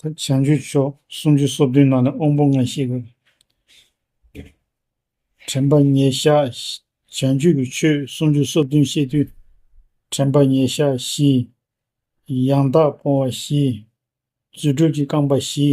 བྱང་ཆུ་ཕྱོགས་སུམ་ཅུ་སོ་བདུན་ནང་ནས་དབང་པོ་ལྔ་ཤེས་དགོས། དྲན་པ་ཉེ་བཞག་བྱང་ཆུ་ཀྱི་ཆོས་སུམ་ཅུ་སོ་བདུན་ཤེས་དུས། དྲན་པ་ཉེ་བཞག་བཞི། ཡང་དག་སྤོང་བ་བཞི། རྫུ་འཕྲུལ་གྱི་རྐང་པ་བཞི།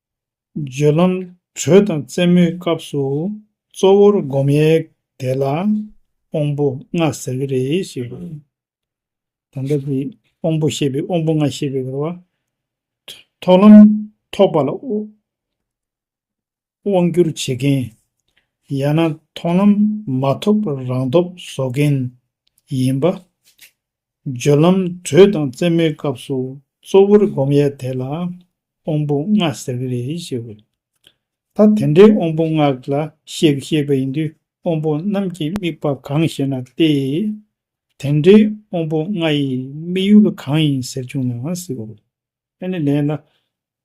སྦྱོད་ལམ་དྲོད་དང་རྩེ་མོའི་སྐབས་སུ་གཙོ་བོར་བསྒོམ་ཡས་དེ་ལ་དབང་པོ་ལྔ་ཟེར་གྱི་རེད་ཞེས་པ། ད་ལྟ་དེ་དབང་པོ་ཤེས་པའི་དབང་པོ་ལྔ་ཤེས་པའི་བར་བ། ཐོག་ལམ་ཐོགས་པ་ལ་དབང་བསྒྱུར་བྱེད་མཁན། ཡང་ན་ཐོག་ལམ་མ་ཐོབ་པར་རང་སྟོབས་བཟོ་མཁན་ཡིན་པ། སྦྱོར་ལམ་དྲོད་དང་རྩེ་མོའི་སྐབས་སུ་གཙོ་བོར་བསྒོམ་ཡས་དེ་ལ་དབང་པོ་ལྔ་ཟེར་གི་རེད་ཞེས་བའི། ད་དེ་འདྲའི་དབང་པོ་ལྔ་ལ་བཤད་གི་ཤེས་པ་ཡིན་དུས་དབང་པོ་རྣམས་ཀྱི་དམིགས་པ་གང་ཞེ་ན་སྟེ། དེ་འདྲའི་དབང་པོ་ལྔ་ཡི་དམིགས་ཡུལ་གང་ཡིན་ཟེར་བྱུང་ན། ཨ་ནི་ལས་ལ་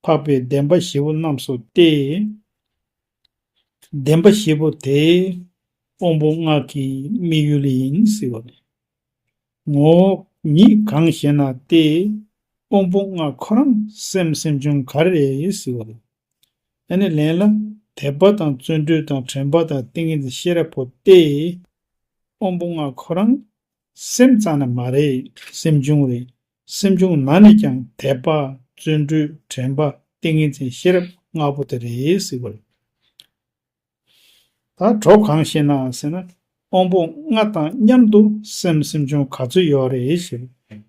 འཕགས་པའི་བདེན་པ་བཞི་པོ་རྣམས་སོ་སྟེ། བདེན་པ་བཞི་པོ་དེ་དབང་པོ་སྔགས་ཀྱི་དམིགས་ཡུལ་ཡིན་ཟེར་བ་ནས། ངོ། ཉིད་གང་ཞེ་ན་སྟེ། དབང་པོ་ལྔ་ཁོ་རང་སེམས་སེམས་བྱུང་ག་རེ་ཟེར་བ་ལ། ཨ་ནི་ལས་ལ་དད་པ་དང་བརྩོན་འགྲུས་དང་དྲན་པ་དང་ཏིང་ངེ་འཛིན་ཤེས་རབ་པོ་སྟེ། དབང་པོ་ལྔ་ཁོ་རང་སེམས་ཙམ་ན་མ་རེད་སེམས་བྱུང་རེད་སེམས་བྱུང་ན་ནི་ཀྱང་དད་པ། བརྩོན་འགྲུས། དྲན་པ། ཏིང་ངེ་འཛིན་ཤེས་རབ་ལྔ་པོ་དེ་རེ་གཟིགས་པ། ད་གྲོགས་གང་ཤེས་ན་ཟེར་ན། དབང་པོ་ལྔ་དང་མཉམ་དུ་སེམས་སེམས་བྱུང་ག་ཚོད་ཡོད་རེད་ཞེས་པ།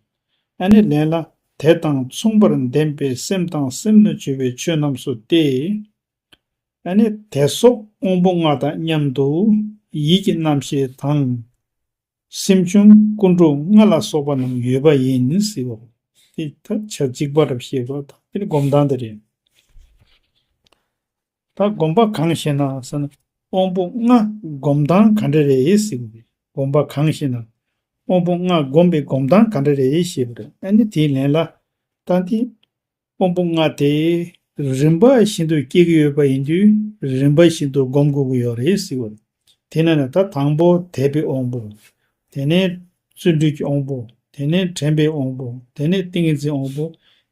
ཨ་ནི་ལན་ལ་དེ་དང་མཚུངས་པར་ལྡན་པའི་སེམས་དང་སེམས་ལ་བཅོལ་བའི་ཆོས་རྣམས་སུ་སྟེ། ཨ་ནི་དད་སོགས་དབང་པོ་ལྔ་དང་མཉམ་དུ་ཡིད་ཀྱི་རྣམ་ཤེས་དང། སེམས་བྱུང་ཀུན་འགྲོ་ལྔ་ལ་སོགས་པ་རྣམས་ཡོད་པ་ཡིན་ནི་སྲིད་པ། དེ་ཐ་ཆ་གཅིག་པ་རབ་ཤེས་པ་དང་དེ་ནི་སྒོམ་སྟངས་དེ་རེད། ད་སྒོམ་པ་གང་ཞེ་ན་ཟེར་ན་དབང་པོ་ལྔ་སྒོམ་སྟངས་ག་འདྲ་རེད་ཟེར་བ་རེད། སྒོམ་པ་གང་ཞེ་ན། དབང་པོ་ལྔ་སྒོམ་པའི་སྒོམ་སྟངས་ག་འདྲ་རེད་ཞེས་པ་རེད། ཨ་ནི་དེའི་ལན་ལ། ད་དེ། དབང་པོ་ལྔ་དེ། རིམ་པ་བཞིན་དུ་སྐྱེ་གི་ཡོད་པ་ཡིན་དུས་རིམ་པ་བཞིན་དུ་སྒོམ་དགོས་ཀྱི་ཡོད་རེད་སྲིད། དེ་ནས་ན་ད་དང་པོ་དད་པའི་དབང་པོ། དེ་ནས་བརྩོན་འགྲུས་ཀྱི་དབང་པོ། དེ་ནས་དྲན་པའི་དབང་པོ། དེ་ནས་ཏིང་ངེ་འཛིན་དབང་པོ།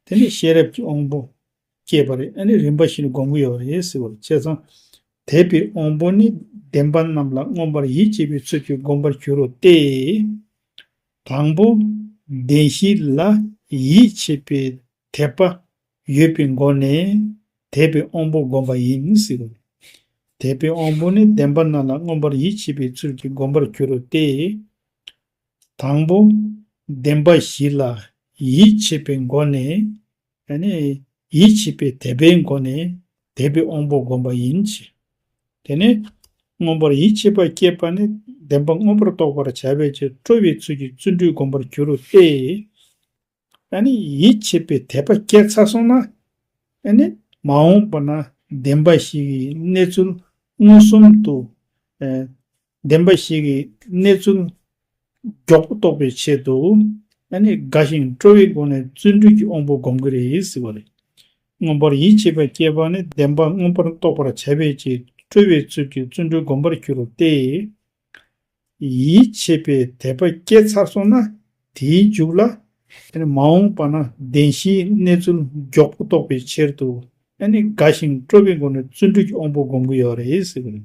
དེ་ནས་ཤེས་རབ་ཀྱི་དབང་པོ། སྐྱེས་པ་རེད་ཨ་ནི་རིམ་པ་བཞིན་དུ་སྒོམ་གྱི་ཡོད་རེད་སྲིད། བྱས་ཙང། དད་པའི་དབང་པོ་ནི་བདེན་པ་རྣམས་ལ་མངོན་པར་ཡིད་ཆེས་པའི་ཚུལ་གྱིས་སྒོམ་པར་འགྱུར་རོ་སྟེ། དང་པོ། བདེན་བཞི་ལ་ཡིད་ཆེས་པའི་དད་པ་ཡོད་པའི་སྒོ་ནས་དད་པའི་དབང་པོ་བསྒོམ་པ་ཡིན་སྲིད་དོ། དད་པའི་དབང་པོ་ནི་བདེན་པ་རྣམས་ལ་མངོན་པར་ཡིད་ཆེས་པའི་ཚུལ་གྱིས་བསྒོམ་པར་འགྱུར་རོ་སྟེ། དང་པོ། བདེན་པ་བཞི་ལ་ཡིད་ཆེས་པའི་སྒོ་ནས་ད་ནི་ཡིད་ཆེས་པའི་དད་པའི་སྒོ་ནས་དད་པའི་དབང་པོ་བསྒོམ་པ་ཡིན་གྱི། དེ་ནས་མངོན་པར་ཡིད་ཆེས་པ་སྐྱེས་པ་ནི་བདེན་པ་མངོན་པར་རྟོགས་པར་བྱ་བའི་ཕྱིར་སྤྲོ་བའི་ཚུལ་གྱིས་བརྩོན་འགྲུས་བསྒོམ་པར་འགྱུར་ཏེ། ད་ནི་ཡིད་ཆེས་པའི་དད་པ་སྐྱེ་ཚར་སོང་ན། ད་ནི་མ་འོངས་པ་ན་བདེན་པ་ཞིག་གི་གནས་ཚུལ་མངོན་སུམ་དུ་བདེན་པ་ཞིག་གི་གནས་ཚུལ་མགྱོགས་པོ་རྟོགས་པའི་ཆེད་དུ་ཨ་ནེ་དགའ་ཞིང་སྤྲོ་བའི་སྒོ་ནས་བརྩོན་འགྲུས་ཀྱི་དབང་པོ་སྒོམ་གྱི་རེད་ཟེར་བ་རེད། མངོན་པར་ཡིད་ཆེས་པ་སྐྱེས་པ་ནི་བདེན་པ་མངོན་པར་རྟོགས་པར་བྱ་བའི་ཆེད་དུ་སྤྲོ་བའི་ཚུལ་གྱིས་བརྩོན་འགྲུས་སྒོམ་པར་འགྱུར་ཏེ། ཡིད་ཆེས་པའི་དད་པ་སྐྱེས་ཚར་སོང་ན་དེའི་མཇུག་ལ། མ་འོངས་པ་ན་བདེན་བཞིའི་གནས་ཚུལ་མགྱོགས་པོ་རྟོགས་པའི་ཆེད་དུ་ཨ་ནེ་དགའ་ཞིང་སྤྲོ་བའི་སྒོ་ནས་བརྩོན་འགྲུས་ཀྱི་དབང་པོ་སྒོམ་གྱི་ཡོད་རེད་ཟེར་བ་རེད།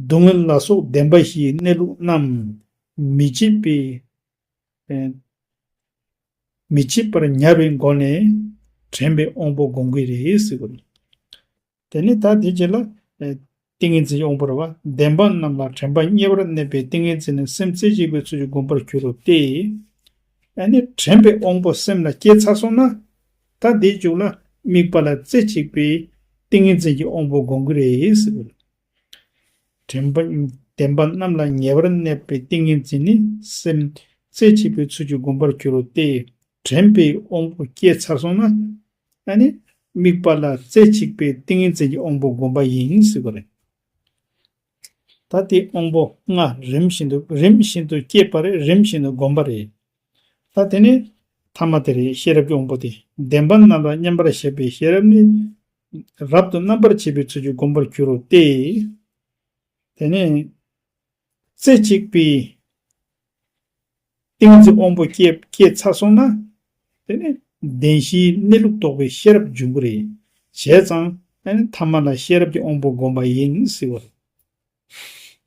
སྡུག་བསྔལ་ལ་སོགས་བདེན་པ་བཞིའི་གནས་ལུགས་རྣམས། མི་བརྗེད་པའི། མི་བརྗེད་པར་ཉར་བའི་སྒོ་ནས། དྲན་པའི་དབང་པོ་སྒོམ་གྱི་རེད། དེ་ནས་ད་དེ་རྗེས་ལ། ཏིང་ངེ་འཛིན་དབང་པོར་བ་བདེན་པ་རྣམས་ལ་དྲན་པ་གཉེར་བར་གནས་པའི་ཏིང་ངེ་འཛིན་ནི་སེམས་རྩེ་གཅིག་པའི་ཚུལ་གྱིས་སྒོམ་པར་འགྱུར་རོ་སྟེ། ཨ་ནི་དྲན་པའི་དབང་པོ་སེམས་ལ་སྐྱེ་ཚར་སོང་ན། ད་འདི་བྱུང་ན་དམིགས་པ་ལ་རྩེ་གཅིག་པའི་ཏིང་ངེ་འཛིན་གྱི་དབང་པོ་དགོངས་ཀྱི་རེད། དྲན་པ་བདེན་པ་རྣམས་ལ་ཉེ་བར་གནས་པའི་ཏིང་ངེ་འཛིན་ནི་སེམས་རྩེ་གཅིག་པའི་ཚུལ་གྱིས་བསྒོམ་པར་འགྱུར་རོ་སྟེ། དྲན་པའི་དབང་པོ་སྐྱེས་ཚར་སོང་ན། དམིགས་པ་ལ་རྩེ་གཅིག་པའི་ཏིང་ངེ་འཛིན་གྱི་དབང་པོ་བསྒོམ་པ་ཡིན་ཟེར་བ་རེད། ད་དེའི་དབང་པོ་ལྔ་རིམ་བཞིན་དུ་རིམ་བཞིན་དུ་སྐྱེས་པ་རེད་རིམ་བཞིན་དུ་བསྒོམ་པ་རེད། ལྟ། དེ་ནི་ཐ་མ་དེ་རེད་ཤེས་རབ་ཀྱི་དབང་པོ་སྟེ་བདེན་པ་རྣམ་པར་བསྙེམས་པར་བྱེད་པའི་ཤེས་རབ་ནི། རབ་ཏུ་རྣམ་པར་འབྱེད་པའི་ཚུལ་གྱིས་བསྒོམ་པར་འགྱུར་རོ་སྟེ། དེ་ནི། རྩེ་གཅིག་པའི། ཏིང་འཛིན་དབང་པོ་སྐྱེས་ཚར་སོང་ན། དེ་ནི་བདེན་བཞིའི་གནས་ལུགས་རྟོགས་པའི་ཤེས་རབ་འབྱུང་གི་རེད། བྱས་ཙང། ཐ་མ་ལ་ཤེས་རབ་ཀྱི་དབང་པོ་བསྒོམ་པ་ཡིན་སྲིད་པ་རེད།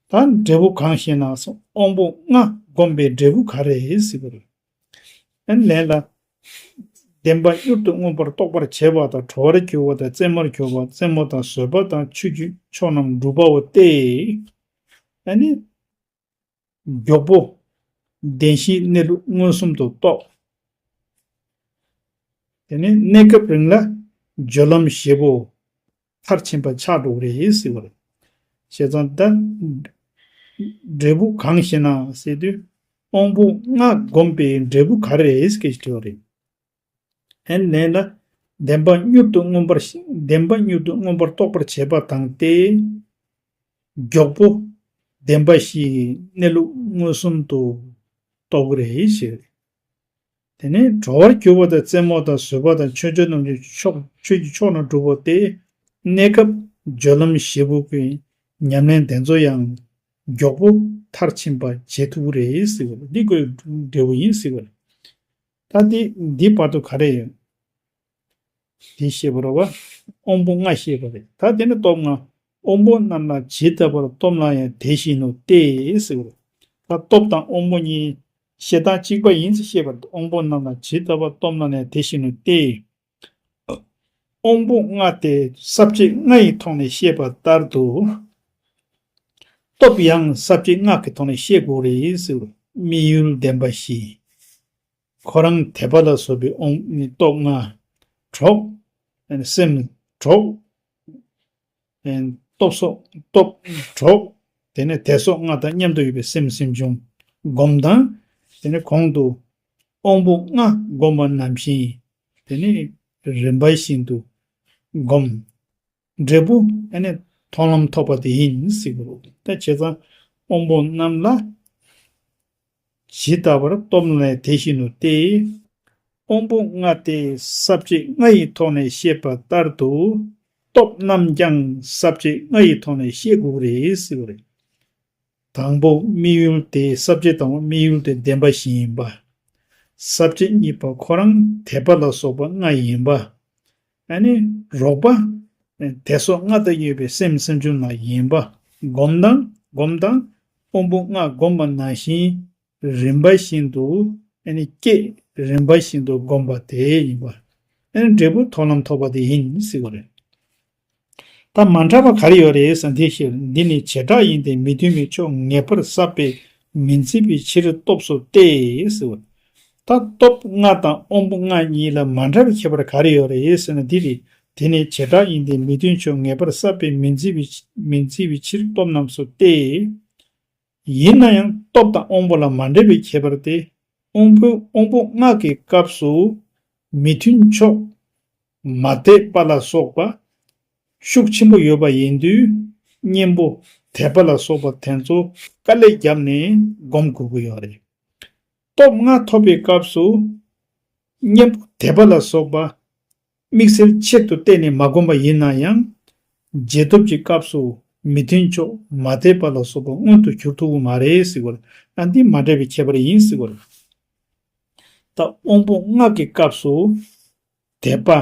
ད་འབྲས་བུ་གང་ཞེ་ན་དབང་པོ་ལྔ་བསྒོམས་པའི་འབྲས་བུ་ག་རེ་སྲིད་པ་རེད། ལན། བདེན་པ་གཡུར་དུ་མངོན་པར་རྟོགས་པར་བྱེད་པ་དང་དྲོ་བར་འགྱུར་བ་དང་རྩེ་མོར་གྱུར་པ་རྩེ་མོ་དང་བཟོད་པ་དང་ཆོས་རྒྱུད་མཆོག་རྣམས་འགྲུབ་པའོ་སྟེ། མགྱོགས་པོ། བདེན་བཞིའི་གནས་ལུགས་མངོན་སུམ་དུ་རྟོགས། དེ་ནས་གནས་སྐབས་རིང་ལ། སྦྱོར་ལམ་བཞི་པོ། མཐར་ཕྱིན་པ་ཆགས་འགྲོ་བ་རེ་ཡིས་སྲིད་པར། ཞེས་ཙང་ཏཱ། འབྲས་བུ་གང་ཞེ་ན་སྲིད་དུས། དབང་པོ་ལྔ་བསྒོམས་པའི་འབྲས་བུ་ག་རེ་རེད་ཀྱི་དྲི་བ་རེད། ཨན་ནེ་ནི། བདེན་པ་མྱུར་དུ་མངོན་པར་བདེན་པ་མྱུར་དུ་མངོན་པར་རྟོགས་པར་བྱེད་པ་དང་སྟེ། མགྱོགས་པོ། བདེན་པ་བཞིའི་གནས་ལུགས་མངོན་སུམ་དུ་རྟོགས་པ་རེད་ཞེས་རེད། དེ་ནི་དྲོ་བར་གྱུར་པ་དང་རྩེད་མོ་དང་བཟོད་པ་དང་ཆོས་འབྱུང་རྣམས་ཀྱི་ཕྱོགས་ཆོས་ཀྱི་ཕྱོགས་རྣམས་གྲུབ་པ་སྟེ། གནས་སྐབས་སྦྱོར་ལམ་བཞི་པོ་གི་ཉམས་ལེན་གདེང་ཚོགས་ཡང་མགྱོགས་པོ་མཐར་ཕྱིན་པ་བྱེད་ཐུབ་པ་རེད་ཟེར་བ་ལ་འདི་ཀོའི་འབྲས་བུ་ཡིན་ཟེར་བ་རེད། ད་འདི་འདི་བར་དུ་ག་རེ་ཡོད། འདི་ཤེས་པར་བ། དབང་པོ་ལྔ་ཤེས་པ་རེད་ད་འདི་ནི་སྟོབས་ལྔ། དབང་པོ་རྣམས་ལ་ཇི་ལྟ་བར་སྟོབས་ལྔ་ཡང་དེ་བཞིན་ནོ་སྟེ། ད་སྟོབས་དང་དབང་པོ་གཉིས། ཞེ་སྡང་གཅིག་པ་ཡིན་ཚེ་ཤེས་པར་དབང་པོ་རྣམས་ལ་ཇི་ལྟ་བར་སྟོབས་ལྔ་ཡང་དེ་བཞིན་ནོ་སྟེ། དབང་པོ་ལྔ་སྟེ་ས་བཅད་ལྔ་ཡི་ཐོག་ནས་བཤད་པ་ལྟར་དུ། སྟོབས་ཡང་ས་བཅད་ལྔ་གི་ཐོག་ནས་བཤད་དགོས་རེད། དམིགས་ཡུལ་ལྡན་པ་བཞི། ཁོ་རང་དད་པ་ལ་བཟོད་པའི་དབང། སྟོབས་ལྔ། གྲོགས། སེམས། གྲོགས། སྟོབས་སོགས་སྟོབས། གྲོགས། དེ་ནས་དད་སོགས་ལྔ་དང་མཉམ་དུ་ཡོད་པའི་སེམས་སེམས་བྱུང། སྒོམ་དང། དེ་ནས་གོང་དུ། དབང་པོ་ལྔ་བསྒོམ་པ་ནམ་བཞིན་ཡིན། དེ་ནས་རིམ་པ་བཞིན་དུ། སྒོམ། འབྲས་བུ། དེ་ནས་མཐོང་ལམ་ཐོབ་པ་དེ་ཡིན། ད་བྱས་ཙང། དབང་པོ་རྣམས་ལ། ཇི་ལྟ་བར་རྟོག་ལྔའི་དེ་བཞིན་ནོ་སྟེ། དབང་པོ་ལྔ་སྟེ་ཟབ་བྱེད་ལྔ་ཡི་ཐོག་ནས་བཤད་པ་ལྟར་དུ། སྟོབས་རྣམས་ཀྱང་ཟབ་བྱེད་ལྔ་ཡི་ཐོག་ནས་བཤད་དགོས་རེད། དང་པོ་དམིགས་ཡུལ་དེ་ཟབ་བྱེད་དང་པོ་དམིགས་ཡུལ་དེ་བདེན་པ་བཞི་ཡིན་པ། ཟབ་བྱེད་གཉིས་པ་ཁོ་རང་དད་པ་ལ་སོགས་པ་ལྔ་ཡིན་པ། ཨ་ནི་རོགས་པ། དད་སོགས་ལྔ་དང་གཡོས་པའི་སེམས་སེམས་བྱུང་མ་ཡིན་པ། སྒོམ་དང་སྒོམ་དང། དབང་པོ་ལྔ་བསྒོམ་པ་ན་བཞིན། རིམ་པ་བཞིན་དུ། ཨ་ནི་བསྐྱེད། རིམ་པ་བཞིན་དུ་བསྒོམ་པ་དེ་ཡིན་པ། ཨ་ནི་འབྲས་བུ་ཐོབ་ལམ་ཐོབ་པ་དེ་ཡིན་སྲིད་པ་རེད། ད་མ་འདྲ་བ་ག་རེ་ཡོད་རེད་ཟེར་དེའི་ཕྱིར་འདི་ནི་བྱེ་བྲག་ཡིན་ཏེ་མི་མཐུན་པའི་ཕྱོགས་ངེས་པར་ཟབ་པས་མི་འཛིན་པའི་ཕྱིར་སྟོབས་སོ་སྟེ། ད་སྟོབས་ལྔ་དང་དབང་པོ་ལྔ་གཉིས་ལ་མ་འདྲ་བའི་ཁྱད་པར་ག་རེ་ཡོད་རེད་ཟེར་ན་འདི་རེད། དེ་ནི་བྱེ་བྲག་ཡིན་ཏེ་མི་མཐུན་ཕྱོགས་ངེས་པར་བསྲབས་པས་མི་འཛིན་བའི་ཕྱིར་སྟོབས་རྣམས་སུ་སྟེ། ཡིན་ན་ཡང་སྟོབས་དང་དབང་པོ་ལ་མ་འདྲ་བའི་ཁྱད་པར་ཏེ། དབང་པོ་ལྔ་གི་སྐབས་སུ་མི་མཐུན་ཕྱོགས། མ་དད་པ་ལ་སོགས་པ། ཤུགས་ཆེན་པོ་ཡོད་པ་ཡིན་དུས་གཉེན་པོ་དད་པ་ལ་སོགས་པ་དེ་ཚོ་དཀའ་ལས་བརྒྱབ་ནས་སྒོམ་དགོས་ཀྱི་ཡོད་རེད། སྟོབས་ལྔ་ཐོབ་པའི་སྐབས་སུ། གཉེན་པོ་དད་པ་ལ་སོགས་པ། དམིགས་བསལ་ཆེད་དུ་གཏན་ནས་མ་བསྒོམ་པ་ཡིན་ན་ཡང། རྗེས་ཐོབ་ཀྱི་སྐབས་སུ་མི་མཐུན་ཕྱོགས་མ་དད་པ་ལ་སོགས་པ་མངོན་དུ་གྱུར་ཐུབ་པོ་མ་རེད་ཟེར་བ་ལ་འདི་མ་འདྲེས་པའི་ཁྱད་པར་ཡིན་ཟེར་བ་རེད། ད་དབང་པོ་སྔགས་ཀྱི་སྐབས་སུ། དད་པ།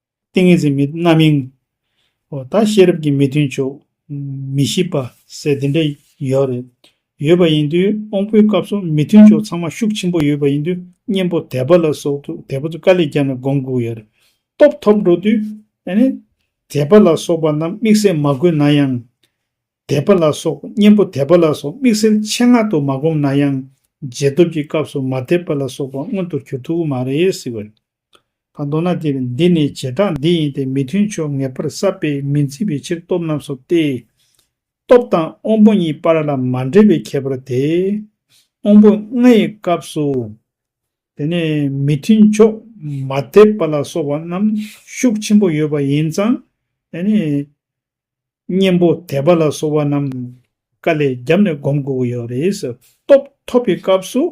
ཏིང་ངེ་འཛིན་མི་རྣམ་སྨིན། ཨོ་ད་ཤེས་རབ་ཀྱི་མི་མཐུན་ཕྱོགས། མི་ཤེས་པ་ཟེར་དེ་འདྲ་ཡོད་རེད། ཡོད་པ་ཡིན་དུས་དབང་པོའི་སྐབས་སུ་མི་མཐུན་ཕྱོགས་ཚང་མ་ཤུགས་ཆེན་པོ་ཡོད་པ་ཡིན་དུས་གཉེན་པོ་དད་པ་ལ་སོགས་དུས་དད་པ་ཚོ་དཀའ་ལས་བརྒྱབ་ནས་སྒོམ་དགོས་ཡོད་རེད། སྟོབས་ཐོབ་འགྲོ་དུས། དད་པ་ལ་སོགས་པ་རྣམས་དམིགས་བསལ་མ་བཀོད་ན་ཡང། དད་པ་ལ་སོགས་གཉེན་པོ་དད་པ་ལ་སོགས་དམིགས་བསལ་ཆེད་མངག་ཏུ་མ་བསྒོམ་ན་ཡང། རྗེས་ཐོབ་ཀྱི་སྐབས་སུ་མ་དད་པ་ལ་སོགས་པ་མངོན་དུ་གྱུར་ཐུབ་མ་རེད། དང་མདོར་ན་དེ་འདི་ནི་བྱེ་བྲག་འདི་ཡིན་ཏེ་མི་མཐུན་ཕྱོགས་ངེས་པར་བསལ་བས་མི་འཛིན་པའི་ཕྱིར་སྟོབས་རྣམས་སོ་སྟེ། སྟོབས་དང་དབང་པོ་གཉིས་པར་ལ་མ་འབྲེལ་བའི་ཁྱད་པར་དེ། དབང་པོ་ལྔ་ཡི་སྐབས་སུ། དེ་ནི་མི་མཐུན་ཕྱོགས་མ་དད་པ་ལ་སོགས་པ་རྣམས་ཤུགས་ཆེན་པོ་ཡོད་པ་ཡིན་ཙང། གཉེན་པོ་དད་པ་ལ་སོགས་པ་རྣམས་དཀའ་ལས་རྒྱབ་ནས་སྒོམ་དགོས་ཀྱི་ཡོད་རེད། སྟོབས་ཐོབ་པའི་སྐབས་སུ།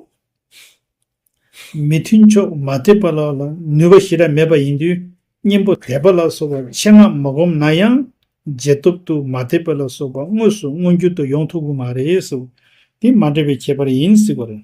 མི་མཐུན་ཕྱོགས་མ་ཐེབས་པ་ལ་ནུས་པ་ཞེ་དྲག་མེད་པ་ཡིན་དུས་གཉེན་པོ་དད་པ་ལ་སོགས་པ་ཆེད་མངགས་མ་སྒོམ་ན་ཡང་རྗེས་ཐོབ་ཏུ་མ་ཐེབས་པ་ལ་སོགས་པ་དངོས་སུ་མངོན་གྱུར་དུ་ཡོང་ཐུབ་ཀྱི་མ་རེད། དེ་མ་འདྲེས་པའི་ཁྱད་པར་ཡིན་སྲིད་པ་རེད།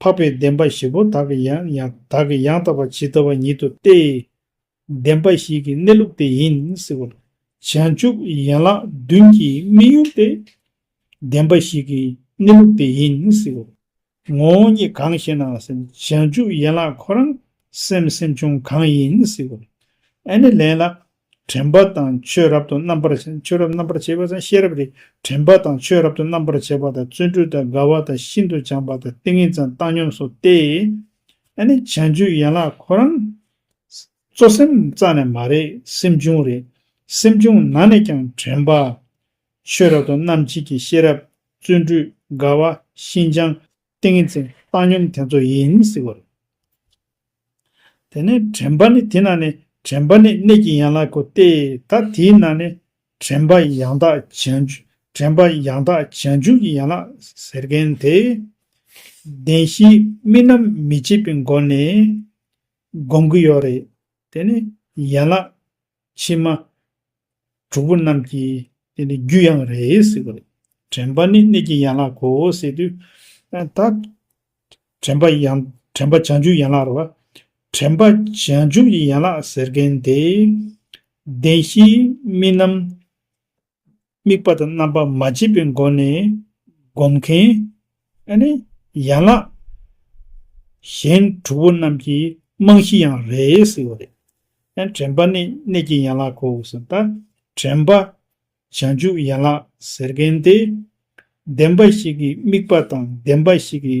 འཕགས་པའི་བདེན་པ་བཞི་པོ་དག་གི་ཡང་དག་གི་ཡང་དག་པ་ཇི་ལྟ་བ་ཉིད་དུ་སྟེ། བདེན་པ་བཞི་གི་གནས་ལུགས་དེ་ཡིན་སྲིད་པ། བྱང་ཆུབ་ཡན་ལག་བདུན་གྱི་དམིགས་ཡུལ་ཏེ། བདེན་པ་བཞི་གི་གནས་ལུགས་དེ་ཡིན་སྲིད་པ། ངོ་བོ་ཉིད་གང་ཞེ་ན་སེམས་བྱང་ཆུབ་ཡན་ལག་ཁོ་རང་སེམས་སེམས་བྱུང་གང་ཡིན་སྲིད་པ། ཨ་ནི་ལན་ལ། དྲན་པ་དང་ཆོས་རབ་ཏུ་རྣམ་པར་ཆོས་རབ་རྣམ་པར་འབྱེད་པ་དང་ཤེས་རབ་རེ་དྲན་པ་དང་ཆོས་རབ་ཏུ་རྣམ་པར་འབྱེད་པ་དང་བརྩོན་འགྲུས་དང་དགའ་བ་དང་ཤིན་ཏུ་སྦྱངས་པ་དང་ཏིང་ངེ་འཛིན་བཏང་སྙོམས་སུ་སྟེ། ཨ་ནི་བྱང་ཆུབ་ཡན་ལག་ཁོ་རང། གཙོ་སེམས་རྩ་ནས་མ་རེད་སེམས་བྱུང་རེད། སེམས་བྱུང་ན་ནས་ཀྱང་དྲན་པ། ཆོས་རབ་ཏུ་རྣམ་འབྱེད་ཀྱི་ཤེས་རབ་བརྩོན་འགྲུས་དགའ་བ་ཤིན་སྦྱངས། ཏིང་ངེ་འཛིན་བཏང་སྙོམས་དེ་ཚོ་ཡིན་ཟེར་བ་རེད། དེ་ནས་དྲན་པ་ནི་དེ་ན་ནི་དྲན་པ་ནི་གནས་ཀྱི་ཡན་ལག་གོ་སྟེ་ད་དེའི་ནང་ནས་དྲན་པ་ཡང་དག་བྱང་ཆུབ་དྲན་པ་ཡང་དག་བྱང་ཆུབ་ཀྱི་ཡན་ལག་ཟེར་མཁན་དེ། བདེན་བཞིའི་རྨི་ལམ་མི་བྱེད་པའི་སྒོ་ནས་སྒོམ་གྱི་ཡོད་རེད་དེ་ནི་ཡན་ལག། ཕྱི་མ། དྲུག་པོ་རྣམས་ཀྱིས། དེ་ནི་རྒྱུ་ཡང་རེད་ཟེར་བ་རེད། དྲན་པ་ནི་གནས་ཀྱི་ཡན་ལག་གོ་ཟེར་དུས། ད། དྲན་པ་ཡང། དྲན་པ་བྱང་ཆུབ་ཡན་ལག་རེད་བ། དྲན་པ་བྱང་ཆུབ་ཀྱི་ཡན་ལག་ཟེར་མཁན་དེ། བདེན་བཞིའི་རྨི་ལམ། དམིགས་པ་དང་རྣམ་པ་མ་བརྗེད་པའི་སྒོ་ནས་བསྒོམ་མཁན། ཡན་ལག་གཞན་དྲུག་པོ་རྣམས་ཀྱི་རྨང་གཞི་ཡང་རེད་ཟེར་བ་རེད། དྲན་པ་ནི་གནད་ཀྱི་ཡན་ལག་གོ་ཟེར་ལྟར་དྲན་པ་བྱང་ཆུབ་ཡན་ལག་ཟེར་མཁན་དེ། བདེན་པ་ཞིག་གི་དམིགས་པ་དང་བདེན་པ་ཞིག་གི་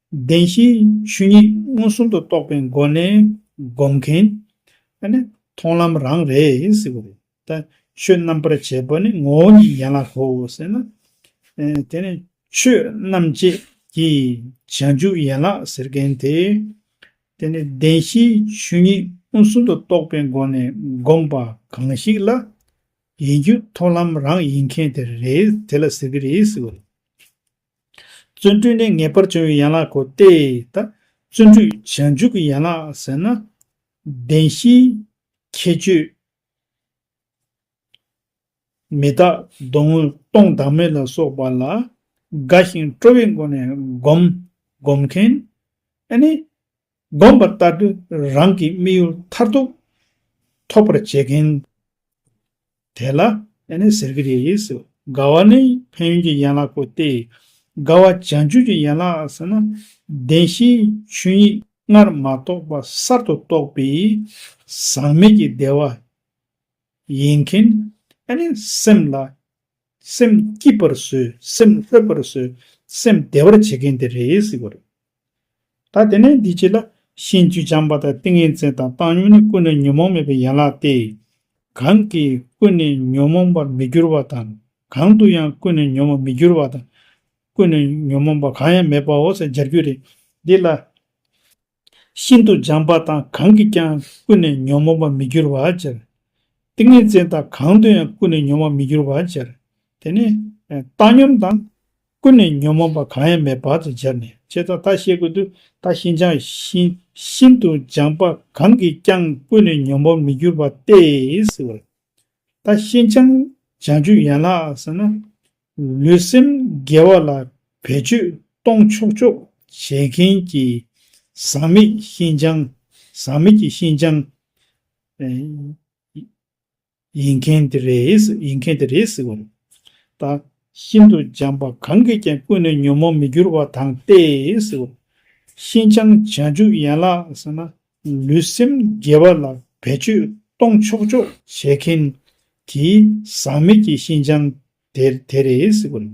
བདེན་བཞིའི་ཆོས་ཉིད་མངོན་སུམ་དུ་རྟོགས་པའི་སྒོ་ནས་བསྒོམ་མཁན་ནི་མཐོང་ལམ་རང་རེད་ཟེར་བ་རེད། ད་ཆོས་རྣམ་པར་འབྱེད་པ་ནི་ངོ་བོ་ཉིད་ཡན་ལག་གོ་ཟེར་ན། དེ་ནི་ཆོས་རྣམ་འབྱེད་ཀྱི་བྱང་ཆུབ་ཡན་ལག་ཟེར་མཁན་དེ། དེ་ནི་བདེན་བཞིའི་ཆོས་ཉིད་མངོན་སུམ་དུ་རྟོགས་པའི་སྒོ་ནས་བསྒོམ་པ་གང་ཞིག་ལ་ཡིན་རྒྱུ་མཐོང་ལམ་རང་ཡིན་མཁན་དེ་རེད་དེ་ལ་ཟེར་གྱི་རེད་ཟེར་བ་རེད། བརྩོན་འགྲུས་ནི་ངེས་པར་འབྱུང་བའི་ཡན་ལག་གོ། ལྟའི་བརྩོན་འགྲུས་བྱང་ཆུབ་ཀྱི་ཡན་ལག་ཟེར་ན། བདེན་བཞིའི་ཁྱད་ཆོས། མི་རྟག་སྡུག་བསྔལ་སྟོང་བདག་མེད་ལ་སོགས་པ་ལ་དགའ་ཞིང་སྤྲོ་བའི་སྒོ་ནས་བསྒོམ། སྒོམ་མཁན། ནི། བསྒོམ་པར་བལྟ། རང་གི་དམིགས་ཡུལ་མཐར་ཐུག་ཐོབ་པར་བྱེད་མཁན་དེ་ལ། ཡང་ནི་ཟེར་གྱི་རེད། དགའ་བ་ནི་ཕན་ཡོན་གྱི་ཡན་ལག་གོ་སྟེ། དགའ་བ་བྱང་ཆུབ་ཀྱི་ཡན་ལག་ཟེར་ན། བདེན་བཞིའི་ཆོས་ཉིད་སྔར་མ་རྟོགས་པ་གསར་དུ་རྟོགས་པས་ཟག་མེད་ཀྱི་བདེ་བ་ཡིན་མཁན། ཡང་ནི་སེམས་ལ། སེམས་སྐྱིད་པར་བཟོས་སེམས་ལྷོད་པར་བཟོས་སེམས་བདེ་བར་བྱེད་མཁན་དེ་རེད། ད་དེ་ནས་འདི་བྱས་ལ། ཤིང་བཅུ་སྦྱངས་པ་དང་ཏིང་ངེ་འཛིན་དང་བཏང་སྙོམས་ནི་ཀུན་ནས་ཉོན་མོངས་མེད་པའི་ཡན་ལག་སྟེ། གང་གིས་ཀུན་ནས་ཉོན་མོངས་པར་མི་འགྱུར་བ་དང། གང་དུ་ཡང་ཀུན་ནས་ཉོན་མོངས་མི་འགྱུར་བ་དང། ཀུན་ནས་ཉོན་མོངས་པ་གང་ཡང་མེད་པའོ་ཟེར་སྦྱར་རྒྱུད་རེད། འདི་ལ། ཤིན་ཏུ་སྦྱངས་པ་དང་གང་གིས་ཀྱང་ཀུན་ནས་ཉོན་མོངས་པར་མི་འགྱུར་བར་སྦྱར། ཏིང་ངེ་འཛིན་དང་གང་དུ་ཡང་ཀུན་ནས་ཉོན་མོངས་མི་འགྱུར་བར་སྦྱར། དེ་ནས། བཏང་སྙོམས་དང། ཀུན་ནས་ཉོན་མོངས་པ་གང་ཡང་མེད་བར་དུ་སྦྱར་ནས་ཅེས་ད་ལྟར་བཤད་ཀུན་ཏུ་ད་ཤིན་སྦྱངས་ཤིང་ཤིན་ཏུ་སྦྱངས་པ་གང་གིས་ཀྱང་ཀུན་ནས་ཉོན་མོངས་མི་འགྱུར་བ་སྟེ། ད་ཤིན་སྦྱངས་སྦྱང་རྒྱུད་ཡན་ལག་ཟེར་ན། ལུས་སེམས་དགེ་བ་ལ་བེད་སྤྱོད་གཏོང་ཆོག་ཆོག་བྱེད་མཁན་གྱི་ཟག་མེད་ཤིན་སྦྱངས་ཟག་མེད་ཀྱི་ཤིན་སྦྱངས། ཡིན་མཁན་དེ་རེད་ཡིན་མཁན་དེ་རེད་ཟེར་བ་རེད། ད། ཤིན་ཏུ་འཇམ་པ་གང་གིས་ཀྱང་ཀུན་ནས་ཉོན་མོངས་མི་འགྱུར་བ་དང་སྟེ་ཟེར་བ། ཤིན་སྦྱང་བྱ་འཇུག་ཡན་ལག་ཟེར་ན་ལུས་སེམས་དགེ་བ་ལ་བེད་སྤྱོད་གཏོང་ཆོག་ཆོག། བྱེད་མཁན། གྱི་ཟག་མེད་ཀྱི་ཤིན་སྦྱང་དེ་རེད་ཟེར་བ་རེད།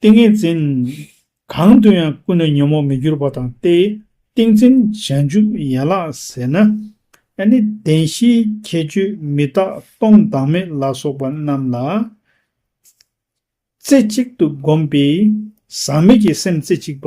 ཏིང་ངེ་འཛིན། གང་དུ་ཡང་ཀུན་ནས་ཉོན་མོངས་མི་འགྱུར་བ་དང་སྟེ། ཏིང་འཛིན་བྱང་ཆུབ་ཡན་ལག་ཟེར་ན། ཨ་ནི་བདེན་བཞིའི་ཁྱད་ཆོས་མི་རྟག་སྟོང་བདག་མེད་ལ་སོགས་པ་རྣམས་ལ། རྩེ་གཅིག་ཏུ་བསྒོམས་པས་ཟག་མེད་ཀྱི་སེམས་རྩེ་གཅིག་པ།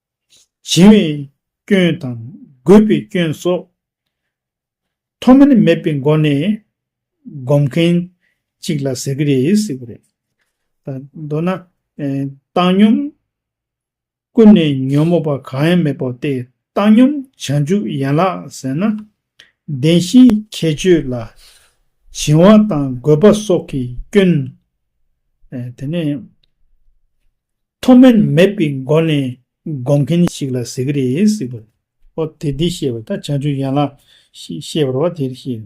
བྱིན་བའི་སྐྱོན་དང་རྒོད་པའི་སྐྱོན་སོགས། མཐོ་དམན་མེད་པའི་སྒོ་ནས་སྒོམ་མཁན་ཅིག་ལ་ཟེར་གྱི་རེད་ཟེར་གྱི་རེད། མདོར་ན། བཏང་སྙོམས་ཀུན་ནས་ཉོན་མོངས་པ་གང་ཡང་མེད་པའོ་སྟེ་བཏང་སྙོམས་བྱང་ཆུབ་ཡན་ལག་ཟེར་ན་བདེན་བཞིའི་ཁྱད་ཆོས་ལ། བྱིང་བ་དང་རྒོད་པ་སོགས་ཀྱི་སྐྱོན། དེ་ནས། མཐོ་དམན་མེད་པའི་སྒོ་ནས་དགོངས་མཁན་ཞིག་ལ་ཟེར་གྱི་རེད་ཟེར་བ། ཨོ་དེ་འདི་ཤེས་པ་ད་བྱང་ཆུབ་ཡན་ལག་ཤེས་པར་བ་དེར་ཤེས།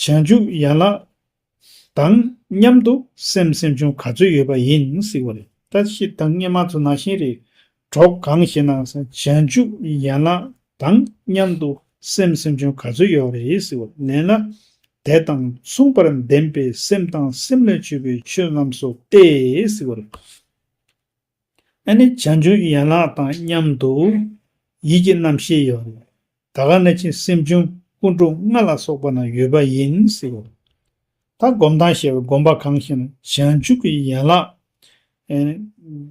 བྱང་ཆུབ་ཡན་ལག་དང་མཉམ་དུ་སེམས་སེམས་བྱུང་ག་ཚོད་ཡོད་པ་ཡིན་སྲིད་པ་རེད་ད་ཤི་དང་སྙེ་མ་ཚོ་ན་ཤིང་རེད་གྲོགས་གང་ཞེ་ན་བྱང་ཆུབ་ཡན་ལག་དང་མཉམ་དུ་སེམས་སེམས་བྱུང་ག་ཚོད་ཡོད་པ་རེད་སྲིད་པ་ལན་ན་དད་དང་མཚུངས་པར་ལྡན་པའི་སེམས་དང་སེམས་ལས་ཆོད་པའི་ཆོས་རྣམས་སོ་སྟེ་སྲིད་པ་རེད། ཨ་ནི་བྱང་ཆུབ་ཀྱི་ཡན་ལག་དང་མཉམ་དུ། ཡིད་ཀྱི་རྣམ་ཤེས་ཡོད་རེད། ད་ག་ནི་ཆེས་སེམས་བྱུང་སྐུ་འཁྲུངས་ལྔ་ལ་སོགས་པ་ན་ཡོད་པ་ཡིན་སྲིད། ད་སྒོམ་ཐང་ཞེས་པའི་སྒོམ་པ་གང་ཞིག་ན་བྱང་ཆུབ་ཀྱི་ཡན་ལག་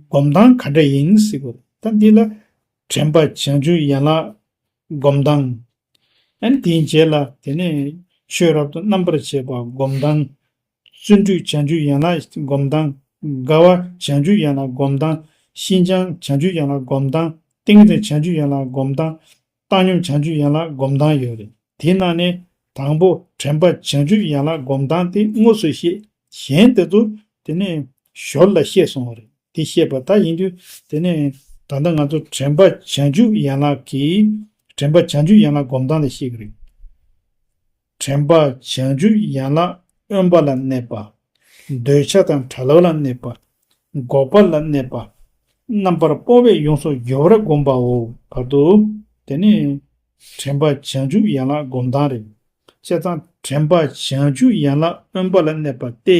སྒོམ་ཐང་ག་འདྲ་ཡིན་སྲིད། ད་འདི་ལ་དྲན་པ་བྱང་ཆུབ་ཡན་ལག་སྒོམ་ཐང། ཨ་ནི་དེའི་རྗེས་ལ་དེ་ནས་ཆོས་རབ་ཏུ་རྣམ་པར་འབྱེད་པ་སྒོམ་ཐང། བརྩོན་འགྲུས་བྱང་ཆུབ་ཡན་ལག་སྒོམ་སྟངས། དགའ་བ་བྱང་ཆུབ་ཡན་ལག་སྒོམ་སྟངས། ཤིན་སྦྱངས་བྱང་ཆུབ་ཡན་ལག་སྒོམ་སྟངས། ཏིང་འཛིན་བྱང་ཆུབ་ཡན་ལག་སྒོམ་སྟངས། བཏང་སྙོམས་བྱང་ཆུབ་ཡན་ལག་སྒོམ་སྟངས་ཡོད་རེད། དེ་རྣམས་ནི། དང་པོ་དྲན་པ་བྱང་ཆུབ་ཡན་ལག་སྒོམ་སྟངས་དེ་དངོས་སུ་ཤེས། གཞན་དེ་ཚོ། དེ་ནས། ཞོར་ལ་ཤེས་སོང་བ་རེད། དེ་ཤེས་པ་ད་ཡིན་དུས། དེ་ནས། ད་ལྟ་ང་ཚོ་དྲན་པ་བྱང་ཆུབ་ཡན་ལག་གིས། དྲན་པ་བྱང་ཆུབ་ཡན་ལག་སྒོམ་སྟངས་དེ་ཤེས་ཀྱི་རེད། དྲན་པ་བྱང་ཆུབ་ཡན་ལག་དབེན་པ་ལ་གནས་པ། འདོད་ཆགས་དང་བྲལ་བ་ལ་གནས་པ། འགོག་པ་ལ་གནས་པ། རྣམ་པར་སྤོང་བས་ཡོངས་སུ་གྱུར་པར་བསྒོམ་པའོ། བར་དུ། དེ་ནི། དྲན་པ་བྱང་ཆུབ་ཡན་ལག་སྒོམ་སྟངས་རེད། བཤད་སྟངས། དྲན་པ་བྱང་ཆུབ་ཡན་ལག་དབེན་པ་ལ་གནས་པ་སྟེ།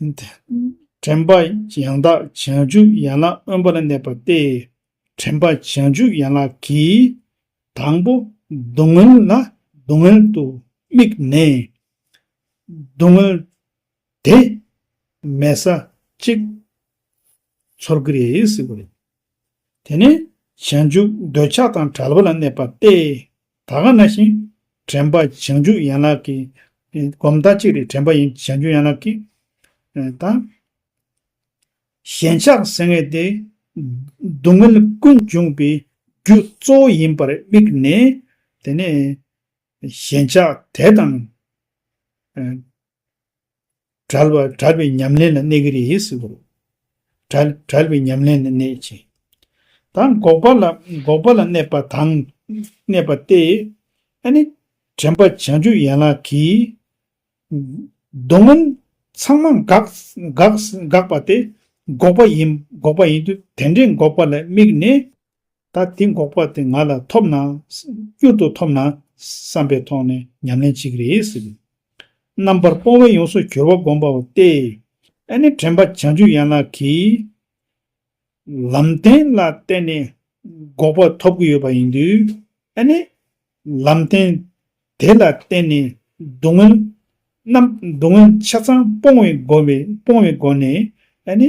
དྲན་པ་ཡང་དག་བྱང་ཆུབ་ཡན་ལག་དབེན་པར་གནས་པ་སྟེ། དྲན་པ་བྱང་ཆུབ་ཡན་ལག་གིས། དང་པོ་སྡུག་བསྔལ་ལ་སྡུག་བསྔལ་དུ་དམིགས་ནས། སྡུག་བསྔལ་དེ་མེད་ས་གཅིག་ཚོར་གྱི་རེད་ཟེར་གྱི་རེད། དེ་ནས་བྱང་ཆུབ་འདོད་ཆགས་དང་བྲལ་བར་གནས་པ་སྟེ། ད་ག་ན་བཞིན་དྲན་པ་བྱང་ཆུབ་ཡན་ལག་གི། སྒོམ་བདག་གཅིག་ལས་དྲན་པ་ཡིན་བྱང་ཆུབ་ཡན་ལག་གི། དང། ཞེན་ཆགས་སེར་སྔས་ཏེ། སྡུག་བསྔལ་ཀུན་འབྱུང་བའི་རྒྱུ་གཙོ་བོ་ཡིན་པར་དམིགས་ནས། དེ་ནས། ཞེན་ཆགས་དད་དང། བྲལ་བ་བྲལ་བའི་ཉམས་ལེན་ལ་གནས་ཀྱི་རེད་ཟེར་གི་རེད། བྲལ་བྲལ་བའི་ཉམས་ལེན་ལ་གནས་ཀྱི། དང་འགོག་པ་ལ་འགོག་པ་ལ་གནས་པ་དང། གནས་པ་སྟེ། ཨ་ནི། དྲན་པ་བྱང་ཆུབ་ཡན་ལག་གི། སྡུག་བསྔལ་ཚང་མ་འགག་འགག་འགག་པ་སྟེ། འགོག་པ་ཡིན་འགོག་པ་ཡིན་དུས་དེ་འདྲའི་འགོག་པ་ལ་དམིགས་ནས། ད་དེ་འགོག་པ་དེ་ང་ལ་ཐོབ་ན། སྐྱུར་དུ་ཐོབ་ན། བསམ་པའི་ཐོག་ནས་ཉམས་ལེན་བྱེད་ཀྱི་རེད་ཟེར་གྱི། རྣམ་པར་སྤོང་བས་ཡོངས་སུ་གྱུར་པ་བསྒོམ་པའོ་སྟེ། ཨེ་ནི་དྲན་པ་བྱང་ཆུབ་ཡན་ལག་གི། ལམ་བདེན་ལ་བརྟེན་ནས། འགོག་པ་ཐོབ་ཀྱི་ཡོད་པ་ཡིན་དུས། ཨེ་ནི། ལམ་བདེན། དེ་ལ་བརྟེན་ནས། སྡུག་བསྔལ། རྣམས་སྡུག་བསྔལ་ཆ་ཚང་སྤོང་བའི་སྒོ་བས་སྤོང་བའི་སྒོ་ནས། ཨེ་ནི།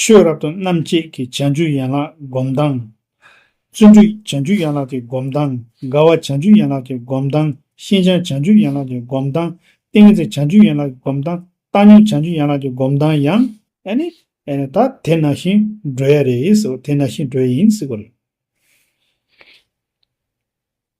ཆོས་རབ་ཏུ་རྣམ་བཅད་ཀྱི་བྱང་ཆུབ་ཡན་ལག་སྒོམ་སྟངས། བརྩོན་འགྲུས་བྱང་ཆུབ་ཡན་ལག་གི་སྒོམ་སྟངས། དགའ་བ་བྱང་ཆུབ་ཡན་ལག་གི་སྒོམ་སྟངས། ཤེས་བྱ་བྱང་ཆུབ་ཡན་ལག་གི་སྒོམ་སྟངས། གཏན་ཚིགས་བྱང་ཆུབ་ཡན་ལག་གི་སྒོམ་སྟངས། བཏང་སྙོམས་བྱང་ཆུབ་ཡན་ལག་གི་སྒོམ་སྟངས་ཡང། ཨ་ནི། ད་དེ་ནང་བཞིན་འགྲོ་ཡ་རེད། དེ་ནང་བཞིན་འགྲོ་ཡ་ཡིན་སྲིད་པ་རེད།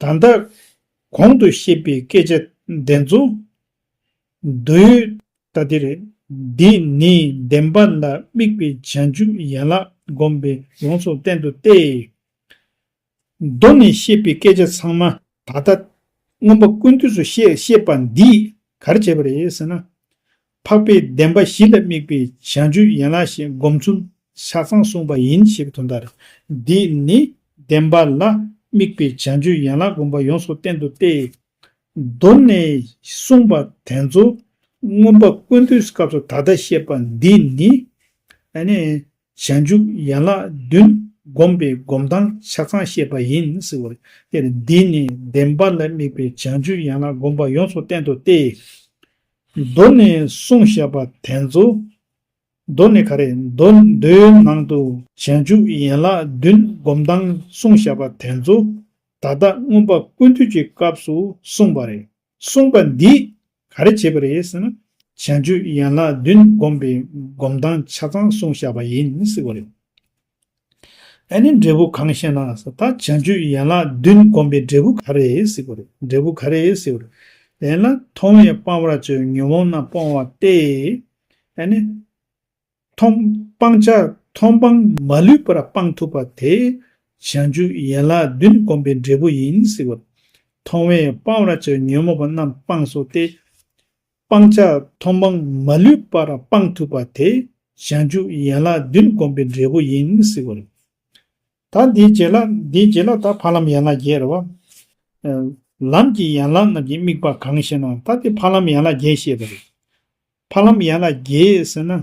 ད་ལྟ། གོང་དུ་བཤད་པའི་སྐད་ཆ་འདི་ཚོ། འདུས། ད་དེ་རེད། འདི་ནི་བདེན་པ་ལ་དམིགས་པའི་བྱང་ཆུབ་ཡན་ལག་བསྒོམ་པའི་ཡོངས་སུ་བསྟན་དུ་སྟེ། མདོ་ནས་བཤད་པའི་སྐད་ཆ་ཚང་མ་ད་ལྟ། མངོན་པ་ཀུན་འདུས་སུ་བཤད་བཤད་པ་འདིས་གར་བྱས་པ་རེད་ཟེར་ན། འཕགས་པའི་བདེན་པ་བཞི་ལ་དམིགས་པའི་བྱང་ཆུབ་ཡན་ལག་བཞི་སྒོམ་ཚུལ་ཆ་ཚང་གསུངས་པ་ཡིན་ཞེས་པའི་དོན་ལྟར། འདིས་ནི་བདེན་པ་ལ་དམིགས་པའི་བྱང་ཆུབ་ཡན་ལག་སྒོམ་པ་ཡོངས་སུ་བསྟན་ཏོ་སྟེ། མདོ་ནས་གསུངས་པ་དེ་ཚོ་མངོན་པ་ཀུན་འདུས་སྐབས་སུ་ད་ལྟ་བཤད་པ་འདིས་ནི། བྱང་ཆུབ་ཡན་ལག་བདུན་སྒོམ་པའི་སྒོམ་སྟངས་ཆ་ཚང་བཤད་པ་ཡིན་ཟེར་བ་སྟེ། འདིས་ནི་བདེན་པ་ལ་དམིགས་པའི་བྱང་ཆུབ་ཡན་ལག་སྒོམ་པ་ཡོངས་སུ་བསྟན་ཏོ་སྟེ། གདོད་ནས་གསུང་བཤད་པ་དེ་ཚོ། གདོད་ནས་ག་རེ་མདོའི་ནང་དུ། བྱང་ཆུབ་ཡན་ལག་བདུན་སྒོམ་སྟངས་གསུང་བཤད་པ་དེ་ཚོ། ད་ལྟ་མངོན་པ་ཀུན་འདུས་ཀྱི་སྐབས་སུ་གསུངས་པ་རེད། གསུངས་པ་འདིས་ག་རེ་བྱེད་པ་རེད་ཟེར་ན། བྱང་ཆུབ་ཡན་ལག་བདུན་སྒོམ་པའི་སྒོམ་སྟངས་ཆ་ཚང་གསུང་བཤད་པ་ཡིན་ཟེར་བ་རེད། ཨ་ནི་འབྲས་བུ་གང་ཞེ་ན་ད་བྱང་ཆུབ་ཡན་ལག་བདུན་བསྒོམས་པའི་འབྲས་བུ་ག་རེ་སྲིད་པོ་རེད་འབྲས་བུ་ག་རེ་སྲིད་པོ་རེད་དེ་ན་མཐོང་བས་སྤང་བར་བྱའི་ཉོན་མོངས་རྣམས་སྤོང་བ་སྟེ། ཨ་ནི། མཐོང་སྤང་བྱ་མཐོང་སྤང་མ་ལུས་པར་སྤང་ཐུབ་པ་དེ་བྱང་ཆུབ་ཡན་ལག་བདུན་བསྒོམས་པའི་འབྲས་བུ་ཡིན་སྲིད་པོ། མཐོང་བས་སྤང་བར་བྱའི་ཉོན་མོངས་པ་རྣམས་སྤངས་སོ་སྟེ། སྤང་བྱ་མཐོང་སྤང་མ་ལུས་པར་སྤང་ཐུབ་པ་དེ་ཞག་འཇུག་ཡན་ལག་བདུན་བསྒོམ་པའི་འབྲས་བུ་ཡིན་སྲིད་བར། ད་འདིའི་རྗེས་ལ་འདིའི་རྗེས་ལ་ད་འཕགས་ལམ་ཡན་ལག་བརྒྱད་རེད་བ། ལམ་གྱི་ཡན་ལག་རྣམས་ཀྱི་དམིགས་པ་གང་ཞེ་ན་ད་འདི་འཕགས་ལམ་ཡན་ལག་བརྒྱད་ཤེས་པ་རེད། འཕགས་ལམ་ཡན་ལག་བརྒྱད་ཟེར་ན།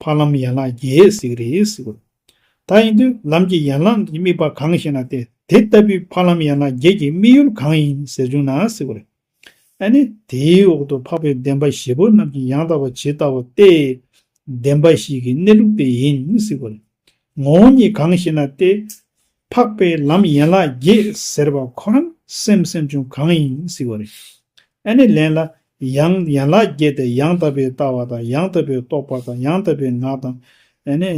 འཕགས་ལམ་ཡན་ལག་བརྒྱད་གཟིགས་རེས་དགོས། ད་ཡིན་དུས་ལམ་གྱི་ཡན་ལག་གི་དམིགས་པ་གང་ཞེ་ན་དེ་དེ་ལྟ་བུའི་འཕགས་ལམ་ཡན་ལག་བརྒྱད་ཀྱི་དམིགས་ཡུལ་གང་ཡིན་ཟེར་བྱུང་ན་གཟིགས་པ་རེད། ཨ་ནི་དེའི་འོག་ཏུ་འཕགས་པའི་བདེན་པ་བཞི་པོ་རྣམས་ཀྱི་ཡང་དག་པ་ཇི་ལྟ་བ་སྟེ། བདེན་པ་བཞི་གི་གནས་ལུགས་དེ་ཡིན་གཟིགས་པ་རེད། ངོ་བོ་ཉིད་གང་ཞེ་ན་དེ། འཕགས་པའི་ལམ་ཡན་ལག་བརྒྱད་ཟེར་བ་ཁོ་རང་སེམས་སེམས་བྱུང་གང་ཡིན་གཟིགས་པ་རེད། ཨ་ནི་ལན་ལ། ཡང་ཡན་ལག་བརྒྱད་དེ་ཡང་དག་པའི་ལྟ་བ་དང་ཡང་དག་པའི་རྟོག་པ་དང་ཡང་དག་པའི་ངག་དང། ཨ་ནི།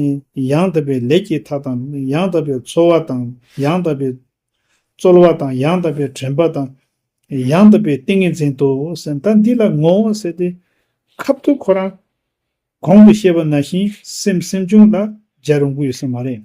ཡང་དག་པའི་ལས་ཀྱི་མཐའ་དང་ཡང་དག་པའི་འཚོ་བ་དང་ཡང་དག་པའི་རྩོལ་བ་དང་ཡང་དག་པའི་དྲན་པ་དང། ཡང་དག་པའི་ཏིང་ངེ་འཛིན་ཏོ་ཟེར་ད་འདི་ལ་ངོ་བོ་ཟེར་ཏེ། ཁབ་ཏུ་ཁོ་རང་གོང་དུ་བཤད་པ་ན་བཞིན་སེམས་སེམས་བྱུང་ལ་སྦྱར་རུང་གི་ཡོད་ས་མ་རེད།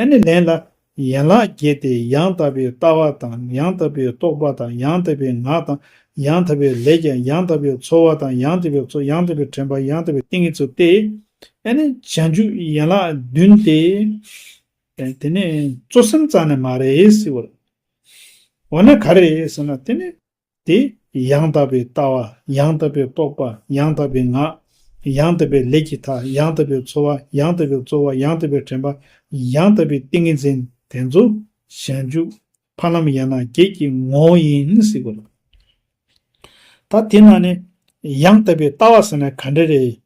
ཨ་ནི་ལན་ལ། ཡན་ལག་བརྒྱད་དེ་ཡང་དག་པའི་ལྟ་བ་དང་ཡང་དག་པའི་རྟོག་པ་དང་ཡང་དག་པའི་ངག་དང་ཡང་དག་པའི་ལས་ཀྱང་ཡང་དག་པའི་ཚོར་བ་དང་ཡང་དག་པའི་ཚོར་ཡང་དག་པའི་དྲན་པ་ཡང་དག་པའི་ཏིང་ངེ་འཛུགས་ཏེ། ཨ་ནི་བྱང་ཆུབ་ཡན་ལག་བདུན་ཏེ། དེ་ནི་གཙོ་སེམས་རྩ་ནས་མ་རེད་ཟེར་བ་རེད། འོ་ན་ག་རེ་རེད་ཟེར་ན་དེ་ནི། དེ་ཡང་དག་པའི་ལྟ་བ་ཡང་དག་པའི་རྟོག་པ་ཡང་དག་པའི་ངག་ཡང་དག་པའི་ལས་ཀྱི་མཐའ་ཡང་དག་པའི་འཚོ་བ་ཡང་དག་པའི་རྩོལ་བ་ཡང་དག་པའི་དྲན་པ་ཡང་དག་པའི་ཏིང་ངེ་འཛིན་དེ་ཚོ་ཞལ་འཇུག་ཕ་ལམ་ཡན་ལག་བརྒྱད་ཀྱི་ངོ་བོ་ཡིན་སྲིད་དགོས་ལ། ད་དེ་ན་ནི་ཡང་དག་པའི་ལྟ་བ་ཟེར་ན་ག་འདྲ་རེད་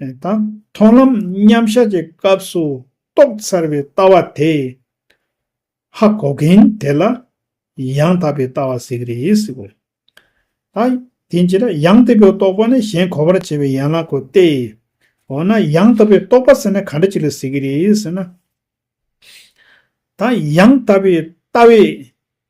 དང་མཐོང་ལམ་མཉམ་གཞག་གི་སྐབས་སུ་རྟོགས་ཚར་བའི་ལྟ་བ་དེ། ཧ་གོ་མཁན་དེ་ལ་ཡང་དག་པའི་ལྟ་བ་ཟེར་གྱི་རེད་ཟེར་གྱི་རེད། དང། དེ་ཅི་རེད་ཡང་དག་པའི་རྟོགས་པ་ནི་གཞན་གོ་བར་བྱེད་པའི་ཡན་ལག་གོ་སྟེ། འོ་ན་ཡང་དག་པའི་རྟོགས་པ་ཟེར་ན་ག་འདྲ་ཅིག་ལ་ཟེར་གྱི་རེད་ཟེར་ན། དང། ཡང་དག་པའི་ལྟ་བས་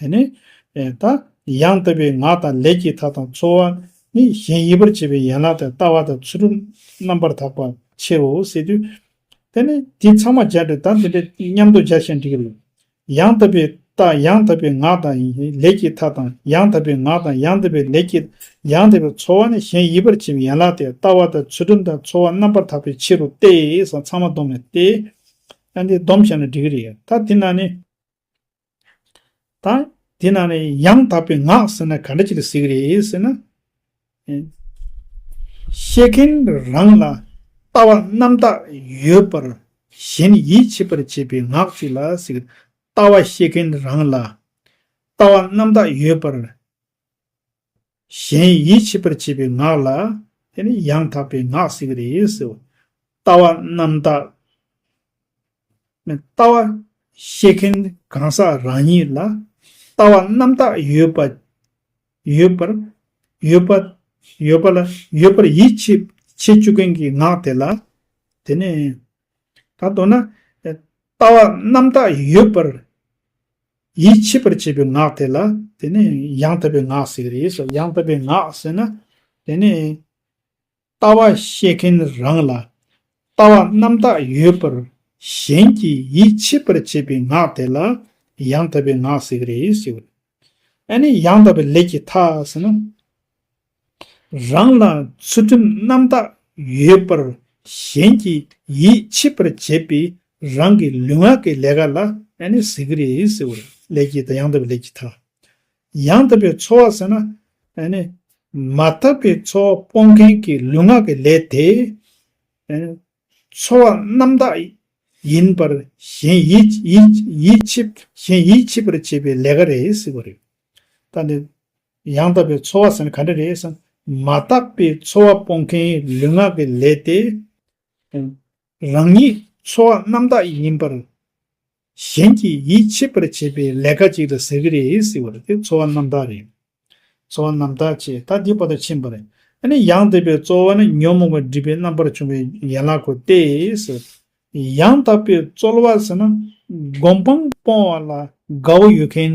དེ་ནི། ད་ཡང་ལྟ་བུའི་ངག་དང་ལས་ཀྱི་མཐའ་དང་ཚོར་བ་ནི་གཞན་ཡིད་པར་བྱེད་པའི་ཡན་ལག་དང་ལྟ་བ་དང་ཚུལ་ཁྲིམས་རྣམ་པར་དག་པ་ཕྱེད་བའོ་ཟེར་དུས། དེ་ནི་དེ་ཚང་མ་སྦྱར་ཏེ་ད་འདི་འདྲའི་མཉམ་དུ་སྦྱར་ཞེན་འགྲིག་གི། ཡང་ལྟ་བུའི་ད་ཡང་ལྟ་བུའི་ངག་དང་ལས་ཀྱི་མཐའ་དང་ཡང་ལྟ་བུའི་ངག་དང་ཡང་ལྟ་བུའི་ལས་ཀྱི་ཡང་ལྟ་བའི་ཚོར་བ་ནི་གཞན་ཡིད་པར་བྱེད་པའི་ཡན་ལག་སྟེ་ལྟ་བ་དང་ཚུལ་ཁྲིམས་དང་ཚོར་བ་རྣམ་པར་དག་པའི་ཕྱིར་རོ་སྟེ་སོགས་ཚང་མ་བསྡོམས་ནས་ཏེ། ཡང་འདི་བསྡོམས་བྱས་ན་འགྲིག་གི་རེད། ད་འདི་ན་ནི། ད་དེ་ན་ནི་ཡང་དག་པའི་ངག་ཟེར་ན་ག་འདྲ་ཅིག་ལ་ཟེར་གྱི་རེད་ཟེར་ན། བཤད་མཁན་རང་ལ་ལྟ་བ་རྣམ་དག་ཡོད་པར་གཞན་ཡིད་ཆེས་པར་བྱེད་པའི་ངག་ཅིག་ལ་ཟེར་གྱི་རེད། ལྟ་བ་བཤད་མཁན་རང་ལ་ལྟ་བ་རྣམ་དག་ཡོད་པར་གཞན་ཡིད་ཆེས་པར་བྱེད་པའི་ངག་ལ་དེ་ནི་ཡང་དག་པའི་ངག་ཟེར་གྱི་རེད་ཟེར། ལྟ་བ་རྣམ་དག། ལྟ་བ་ཤེས་མཁན་གང་ཟག་རང་ཉིད་ལ་ལྟ་བ་རྣམ་དག་ཡོད་པ་ཡོད་པར་ཡོད་པ་ཡོད་པ་ལ་ཡོད་པར་ཡིད་ཆེས་བྱེད་བཅུག་མཁན་གྱི་ངག་དེ་ལ་དེ་ནི། ད་དོ་ན། ལྟ་བ་རྣམ་དག་ཡོད་པར་ཡིད་ཆེས་པར་བྱེད་པའི་ངག་དེ་ལ་དེ་ནི་ཡང་དག་པའི་ངག་ཟེར་རེས་སོ་ཡང་དག་པའི་ངག་ཟེར་ན་དེ་ནི། ལྟ་བ་བཤད་མཁན་རང་ལ་ལྟ་བ་རྣམ་དག་ཡོད་པར་གཞན་གྱིས་ཡིད་ཆེས་པར་བྱེད་པའི་ངག་དེ་ལ་ཡང་དག་པའི་ངག་ཟེར་རེས་སོ། ཨ་ནི་ཡང་དག་པའི་ལས་ཀྱི་མཐའ་ཟེར་ན། རང་ལ་ཚུལ་ཁྲིམས་རྣམ་དག་ཡོད་པར་གཞན་གྱིས་ཡིད་ཆེས་པར་བྱེད་པའི་རང་གི་ལུས་ངག་གི་ལས་ཀ་ལ་ཨ་ནི་ཟེར་གི་རེད་ཟེར་བ་རེད། ལས་ཀྱི་དང་ཡང་དག་པའི་ལས་ཀྱི་དང། ཡང་དག་པའི་འཚོ་བ་ཟེར་ན་ཨ་ནི་མ་དག་པའི་འཚོ་བ་སྤོང་མཁན་གྱི་ལུས་ངག་གི་ལས་དེ་ཨ་ནི་འཚོ་བ་རྣམ་དག་ཡིན་པར་གཞན་ཡིད་ཡིད་ཡིད་ཆེས་གཞན་ཡིད་ཆེས་པར་བྱེད་པའི་ལས་ཀ་རེད་ཟེར་བ་རེད། ད་ནི་ཡང་དག་པའི་འཚོ་བ་ཟེར་ན་ག་འདྲ་རེད་བསམ། མ་དག་པའི་འཚོ་བ་སྤོང་མཁན་ལུས་ངག་གི་ལས་ཏེ། རང་ཉིད་འཚོ་བ་རྣམ་དག་ཡིན་པར། གཞན་གྱི་ཡིད་ཆེས་པར་བྱེད་པའི་ལས་ཀ་ཅིག་ལ་ཟེར་གྱི་རེད་ཟེར་བ་རེད་དེ་འཚོ་བ་རྣམ་དག་རེད། འཚོ་བ་རྣམ་དག་ཅེས་ད་དེ་བར་དུ་ཕྱིན་པ་རེད། ཨ་ནི་ཡང་དག་པའི་འཚོ་བ་ནི་ཉོན་མོངས་པ་སྒྲིབ་པའི་རྣམ་པར་བྱུང་བའི་ཡན་ལག་གོ་སྟེ། ཡང་དག་པའི་རྩོལ་བ་ཟེར་ན་སྒོམ་སྤང་སྤོང་བ་ལ་དགའ་བོ་ཡོད་མཁན་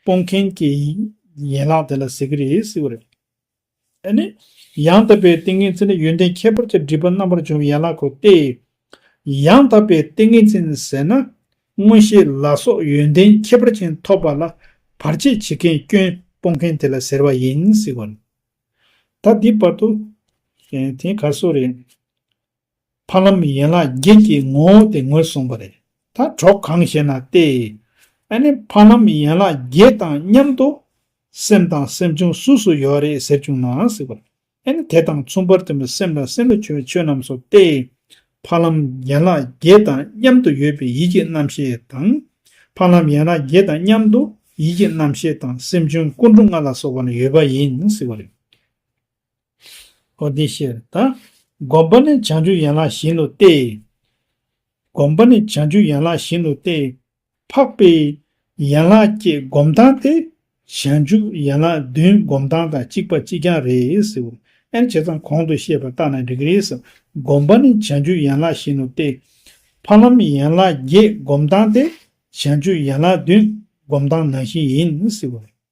སྤོང་མཁན་གྱི་ཡན་ལག་དེ་ལ་ཟེར་གྱི་རེད་ཟེར་བ་རེད། ཨེ་ནི། ཡང་དག་པའི་ཏིང་ངེ་འཛིན་ནི་ཡོན་ཏན་ཁྱད་པར་གྱི་སྒྲིབ་པ་རྣམ་པར་འཇོམས་པའི་ཡན་ལག་གོ་སྟེ། ཡང་དག་པའི་ཏིང་ངེ་འཛིན་ཟེར་ན། མངོན་ཤེས་ལ་སོགས་ཡོན་ཏན་ཁྱད་པར་ཅན་ཐོབ་པ་ལ་བར་ཆད་བྱེད་མཁན་སྐྱོན་སྤོང་མཁན་དེ་ལ་ཟེར་བ་ཡིན་ཟེར་བ་རེད། ད་འདི་བར་དུ། དེ་ག་སོ་རེད། ཕ་ལམ་ཡན་ལག་བརྒྱད་ཀྱི་ངོ་བོ་དེ་ངོས་བཟུང་བ་རེད། ད་གྲོགས་གང་ཞེ་ན་སྟེ། ཨ་ནི་ཕ་ལམ་ཡན་ལག་བརྒྱད་དང་མཉམ་དུ། སེམས་དང་སེམས་བྱུང་སུ་སུ་ཡོད་རེད་ཟེར་བྱུང་ན་སྲིད་པ་རེད། ཨ་ནི་དེ་དང་མཚུངས་པར་དེ་མོ་སེམས་དང་སེམས་ལ་འཆོལ་བའི་ཆོས་རྣམས་སོ་སྟེ། ཕ་ལམ་ཡན་ལག་བརྒྱད་དང་མཉམ་དུ་ཡོད་པའི་ཡིད་ཀྱི་རྣམ་ཤེས་དང། ཕ་ལམ་ཡན་ལག་བརྒྱད་དང་མཉམ་དུ་ཡིད་ཀྱི་རྣམ་ཤེས་དང་སེམས་བྱུང་སྐུ་འགྲོ་ལྔ་ལ་སོགས་པ་ཡོད་པ་ཡིན་སྲིད་པ་རེད། ཨོ་དེ་ཕྱིར་དང། བསྒོམ་པ་ནི་བྱང་ཆུབ་ཡན་ལག་བཞི་ནོ་སྟེ། བསྒོམ་པ་ནི་བྱང་ཆུབ་ཡན་ལག་བཞི་ནོ་སྟེ། འཕགས་པའི་ཡན་ལག་བརྒྱད་བསྒོམ་སྟངས་ཏེ། བྱང་ཆུབ་ཡན་ལག་བདུན་བསྒོམ་སྟངས་དང་གཅིག་པ་གཅིག་རྐྱང་རེད། ཨེ་བྱས་ཙང་གོང་དུ་བཤད་པ་ལྟར་ན་འགྲིག་གི་རེད། བསྒོམ་པ་ནི་བྱང་ཆུབ་ཡན་ལག་བཞི་ནོ་སྟེ། འཕགས་ལམ་ཡན་ལག་བརྒྱད་བསྒོམ་སྟངས་ཏེ། བྱང་ཆུབ་ཡན་ལག་བདུན་བསྒོམ་སྟངས་ནང་བཞིན་ཡིན།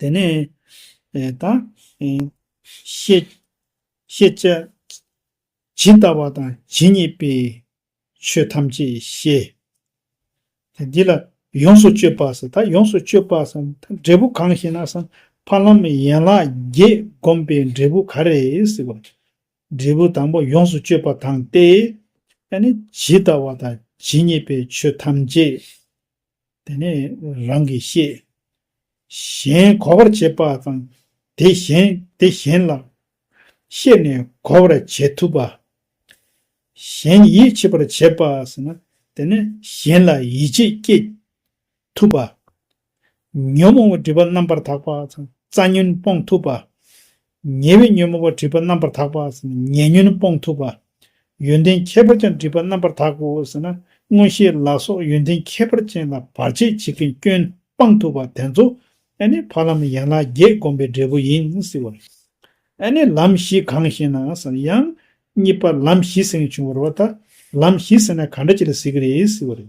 དེ་ནས་དང། ཤེས་བྱ། ཇི་ལྟ་བ་དང་ཇི་སྙེད་པའི་ཆོས་ཐམས་ཅད་ཤེས། འདི་ལ་ཡོངས་སུ་སྤྱོད་པ་ཟེར། ད་ཡོངས་སུ་སྤྱོད་པ་ཟེར་འབྲས་བུ་གང་ཞེ་ན། འཕགས་ལམ་ཡན་ལག་བརྒྱད་བསྒོམས་པའི་འབྲས་བུ་ག་རེ་ཟེར་བ། འབྲས་བུ་དང་པོ་ཡོངས་སུ་སྤྱོད་པ་དང་སྟེ། ཇི་ལྟ་བ་དང་ཇི་སྙེད་པའི་ཆོས་ཐམས་ཅད་དེ་ནས་རང་གིས་ཤེས། གཞན་གོ་བར་བྱེད་པ་དང་དེ་གཞན་དེ་གཞན་ལ་ཤེས་ནས་གོ་བར་བྱེད་ཐུབ་པ། གཞན་ཡིད་ཆེས་པར་བྱེད་པ་ཟེར་ན་དེ་ནི་གཞན་ལ་ཡིད་ཆེས་སྐྱེད་ཐུབ་པ། ཉོན་མོངས་པའི་སྒྲིབ་པ་རྣམ་པར་དག་པ་དང་རྩ་ཉོན་སྤོང་ཐུབ་པ། ཉེ་བའི་ཉོན་མོངས་པ་སྒྲིབ་པ་རྣམ་པར་དག་པ། ཉེ་ཉོན་སྤོང་ཐུབ་པ། ཡོན་ཏན་ཁྱད་པར་ཅན་སྒྲིབ་པ་རྣམ་པར་དག་གོ། མངོན་ཤེས་ལ་སོགས་ཡོན་ཏན་ཁྱད་པར་ཅན་ལ་བར་ཆད་བྱེད་མཁན་སྐྱོན་སྤང་ཐུབ་པ་དེ་ཚོ་ནི་ཕ་ལམ་ཡན་ལག་བརྒྱད་བསྒོམ་པའི་འབྲས་བུ་ཡིན་ཟེར་བ། ལམ་བཞི་གང་ཞེ་ན། ཡང། གཉིས་པ་ལམ་བཞི་ཟེར་མཁན་བྱུང་བར་བ་ད། ལམ་བཞི་ཟེར་ན་ག་འདྲ་ཅི་ལ་ཟེར་གྱི་རེད་ཟེར་བ།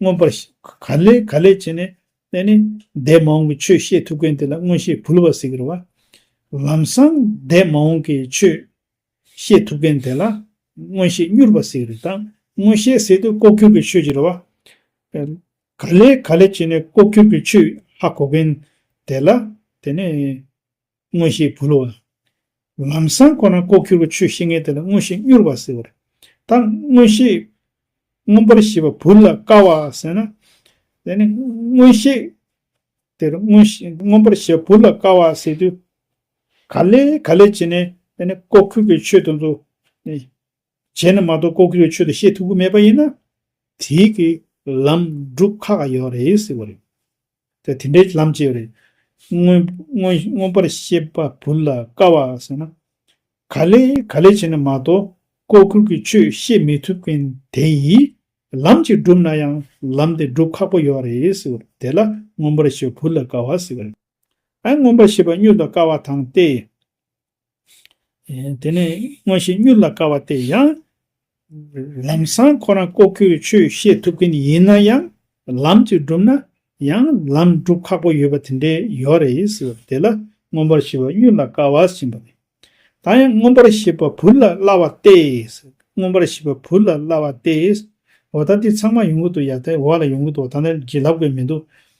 མངོན་པར་ཤེས། ག་ལས་ག་ལས་བྱས་ནས་བསྟན་ནས། འདས་མ་འོངས་ཀྱི་ཆོས་ཤེས་ཐུབ་མཁན་དེ་ལ་མངོན་ཤེས་བུ་ལ་བ་སི་ཀི་ར་བ། ལམ་སང་འདས་མ་འོངས་ཀྱི་ཆོས་ཤེས་ཐུབ་མཁན་དེ་ལ་མངོན་ཤེས་སྨྱུར་བ་སི་ཀི་རི་དང། མངོན་ཤེས་སེ་ཏུ་ལྐོག་གྱུར་གྱི་ཆོས་ཀྱི་ར་བ། ག་ལས་ག་ལས་བྱས་ནས་ལྐོག་གྱུར་གྱི་ཆོས་ཧ་གོ་མཁན་དེ་ལ་དེ་ནི། མངོན་ཤེས་བུ་ལོ། ལམ་སྲང་ཁོ་ན་ལྐོག་གྱུར་པའི་ཆོས་བཤེས་གཉེན་དེ་ལ་མངོན་ཤེས་མྱུར་བར་གཟིགས་པར་དང་མངོན་ཤེས་མངོན་པར་ཤེས་པ་བུ་ལ་དཀའ་བ་ཟེར་ན། དེ་ནི་མངོན་ཤེས་དེ་ལ་མངོན་ཤེས་མངོན་པར་ཤེས་པ་བུ་ལ་དཀའ་བ་ཟེར་དུས། ག་ལས་ག་ལས་བྱས་ནས་དེ་ནི་ལྐོག་གྱུར་པའི་ཆོས་དེ་ཚོ་ནི་བྱས་ན་མ་གཏོགས་ལྐོག་གྱུར་བའི་ཆོས་དེ་བཤད་ཐུབ་ཀྱི་མེད་པ་ཡིན་ན། དེའི་གི་ལམ་སྒྲུབ་ཁག་ཁག་ཡོད་རེད་ཟེར་བ་རེད། དེ་དེ་འདྲའི་ལམ་སྤྱད་རེད། མངོན་པར་ཤེས་པ་བུ་ལ་དཀའ་བ་ཟེར་ན། ག་ལེ་ག་ལེ་བྱས་ན་མ་གཏོགས་ལྐོག་གྱུར་གྱི་ཆོས་བཤད་མི་ཐུབ་མཁན་དེ་ཡིས་ལམ་ཅིག་སྒྲུབ་ན་ཡང་ལམ་དེ་སྒྲུབ་ཁག་པོ་ཡོད་རེད་ཟེར་བ་དེ་ལ་མངོན་པར་ཤེས་པ་བུ་ལ་དཀའ་བ་ཟེར་བ་རེད། ཨ་མངོན་པར་ཤེས་པ་སྨྱོས་ལ་དཀའ་བ་དང་སྟེ། དེ་ནས་མངོན་ཤེས་མྱུར་ལ་དཀའ་བ་དེ་ཡང། ལམ་སང་ཁོ་རང་ལྐོག་གྱུར་ཆོས་བཤད་ཐུབ་མཁན་ཡིན་ན་ཡང་ལམ་གྱིས་བསྒྲུབ་ན་ཡང་ལམ་བསྒྲུབ་ཁག་པོ་ཡོད་པ་དེ་འདྲའི་ཡོད་རེད། དེ་ལ་མངོན་པར་ཤེས་པ་མྱུར་ལ་དཀའ་བ་ཞེས་པ་ནས། ད་ཡང་མངོན་པར་ཤེས་པ་བུ་ལ་སླ་བ་སྟེ། མངོན་པར་ཤེས་པ་བུ་ལ་སླ་བ་སྟེ། འོ་ད་འདི་ཚང་མ་ཡོང་གི་འདུག་ཡ་ད་འོ་ལ་ཡོང་གི་འདུག་ད་ནི་བགྱིད་ལབ་དགོས་མི་འདུག་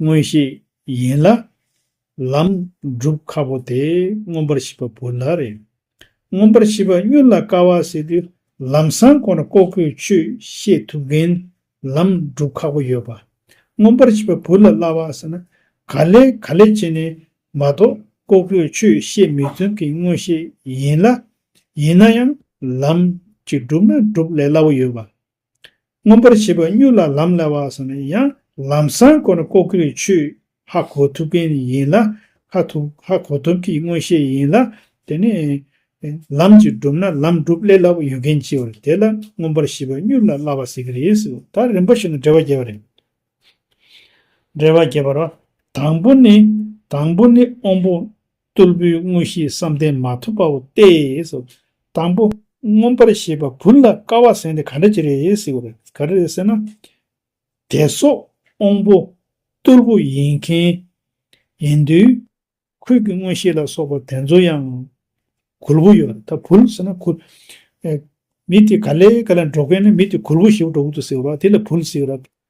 མངོན་ཤེས་ཡིན་ལ། ལམ་སྒྲུབ་ཁ་བོ་དེ་མངོན་པར་ཤེས་པ་བོ་ལ་རེ། མངོན་པར་ཤེས་པ་སྨྱོན་ལ་དཀའ་བ་ཟེར་དུས་ལམ་སྲང་ཁོ་ན་ལྐོག་གོས་ཆོས་ཤེས་ཐུབ་མཁན་ལམ་སྒྲུབ་ཁག་པོ་ཡོད་པ། མངོན་པར་ཤེས་པ་བུ་ལ་སླ་བ་ཟེར་ན་ག་ལེ་ག་ལེ་བྱེད་ནས་མ་གཏོགས་ལྐོག་གོས་ཆོས་ཤེས་མི་མཚོན་མཁན་མངོན་ཤེས་ཡིན་ལ། ཡིན་ན་ཡང་ལམ་གྱི་སྒྲུབ་ན་སྒྲུབ་ལས་སླ་བོ་ཡོད་པ། མངོན་པར་བྱེད་པ་གཉུག་ལ་ལམ་ལ་བ་སོགས་ནི་ཡང་ལམ་སྲང་ཀོ་ན་ཀོ་ཀིར་ཆུས་ཧ་གོ་ཐུབ་མཁན་ཡིན་ལ། ཧ་ཐུབ་ཧ་གོ་ཐུབ་ཀྱི་མངོན་ཤེས་ཡིན་ལ། དེ་ནི། ལམ་གྱིས་བསྒྲུབས་ན་ལམ་སྒྲུབ་སླད་སླ་པོ་ཡོད་མཁན་གྱི་བར་དེ་ལ་མངོན་པར་བྱེད་པ་གཉུག་ལ་སླ་བ་ཟེར་གྱི་རེད་ཟེར། ད་རིམ་པ་ཞིག་ན་འགྲེལ་བ་རྒྱས་པ་རེད། འགྲེལ་བ་རྒྱས་པར་བ། དང་པོ་ནི། དང་པོ་ནི་དབང་པོ། གཏུར་བུའི་དངོས་གཞིའི་བསམ་གཏན་མ་ཐོབ་པའོ་སྟེ། དང་པོ། མངོན་པར་ཤེས་པ་བུ་ལ་དཀའ་བ་ཟན་དེ་ག་འདྲ་ཅི་རེད་ཟེར་བ་རེད། ག་རེ་རེད་ཟེར་ན། དད་སོགས་དབང་པོ། གཏུར་བུ་ཡིན་མཁན། ཡིན་དུས། ཁུད་ཀྱི་དངོས་གཞི་ལ་སོགས་པ་དེ་ཚོ་ཡང། གུར་བུ་ཡོད་རེད་ད་བུ་ཟེར་ན་གུར། མི་དེ་ག་ལས་ག་ལ་འགྲོ་མཁན་ནི་མི་དེ་གུར་བུ་ཞེ་བོ་འགྲོ་གི་འདུག་ཟེར་བ་དེ་ལ་བུ་ཟེར་བ་རེད།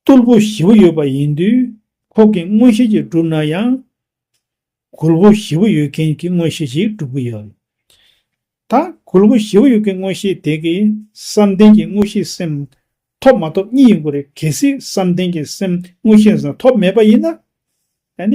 རྟུལ་པོ་བཞི་པོ་ཡོད་པ་ཡིན་དུས་ཁོག་གི་མངོན་ཤེས་ཀྱིས་བསྒྲུབས་ན་ཡང། གུར་བུ་བཞི་པོ་ཡོད་མཁན་གྱི་མངོན་ཤེས་ཀྱིས་བསྒྲུབ་གི་ཡོད། ད་གུར་བུ་བཞི་པོ་ཡོད་མཁན་མངོན་ཤེས་དེ་གི་བསམ་གཏན་གྱི་མངོན་ཤེས་སེམས་ཐོབ་མ་ཐོབ་གཉིས་ཡིན་དགོས་རེད་གལ་སྲིད་བསམ་གཏན་གྱི་སེམས་མངོན་ཤེས་སེམས་ཐོབ་མེད་པ་ཡིན་ན།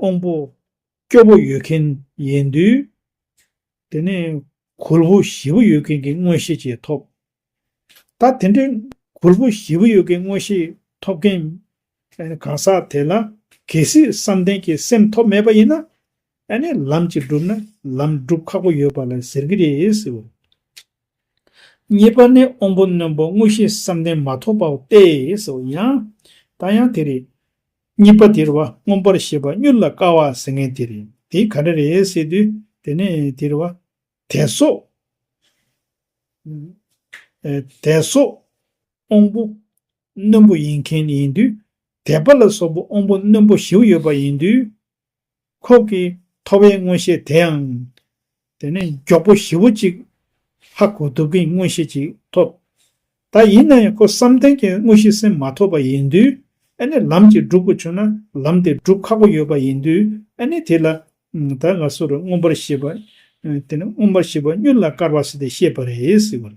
དབང་པོ། སྐྱོ་པོ་ཡོད་མཁན་ཡིན་དུས། དེ་ནས་གུར་བུ་བཞི་པོ་ཡོད་མཁན་གྱི་མངོན་ཤེས་བཅས་ཐོབ། ད་དེ་འདྲའི་གུར་བུ་བཞི་པོ་ཡོད་མཁན་མངོན་ཤེས་ཐོབ་མཁན་གང་ཟག་དེ་ལ་གལ་སྲིད་བསམ་གཏན་གྱི་སེམས་ཐོབ་མེད་པ་ཡིན་ན། ཨ་ནི་ལམ་གྱིས་བསྒྲུབས་ན་ལམ་བསྒྲུབ་ཁག་པོ་ཡོད་པ་ལ་ཟེར་གྱི་རེད་ཟེར། གཉིས་པ་ནི་དབང་པོ་རྣོན་པོ་མངོན་ཤེས་བསམ་གཏན་མ་ཐོབ་པའོ་སྟེ་ཟེར་ཡང། ད་ཡང་དེ་རེད། གཉིས་པ་དེར་བ་མངོན་པར་ཤེས་པ་མྱུར་ལ་དཀའ་བ་ཟེར་ངེས་དེ་རེད་དེ་ག་འདྲ་རེད་ཟེར་དུས་དེ་ནི་དེར་བ། དད་སོགས། དད་སོགས། དབང་པོ། རྣོན་པོ་ཡིན་མཁན་ཡིན་དུས་དད་པ་ལ་སོགས་པ་དབང་པོ་རྣོན་པོ་བཞིའུ་ཡོད་པ་ཡིན་དུས། ཁོག་གི་ཐོ་བའི་མངོན་ཤེས་དེའང། དེ་ནས་མགྱོགས་པོ་ཞི་བོ་གཅིག། ཧ་གོ་དུབ་ཀྱི་མངོན་ཤེས་གཅིག་ཐོབ། ད་ཡིན་ན་ཡང་ཁོ་བསམ་གཏན་གྱི་དངོས་གཞི་སེམས་མ་ཐོབ་པ་ཡིན་དུས། ཨ་ནི་ལམ་གྱིས་བསྒྲུབ་དགོས་བྱུང་ན་ལམ་དེ་སྒྲུབ་ཁག་པོ་ཡོད་པ་ཡིན་དུས་ཨ་ནི་དེ་ལ། ད་ང་སུ་རུ་མངོན་པར་ཤེས་པ། དེ་ནི་མངོན་པར་ཤེས་པ་གཉུག་ལ་དཀར་བ་སི་ཏེ་ཤེས་པ་རེད།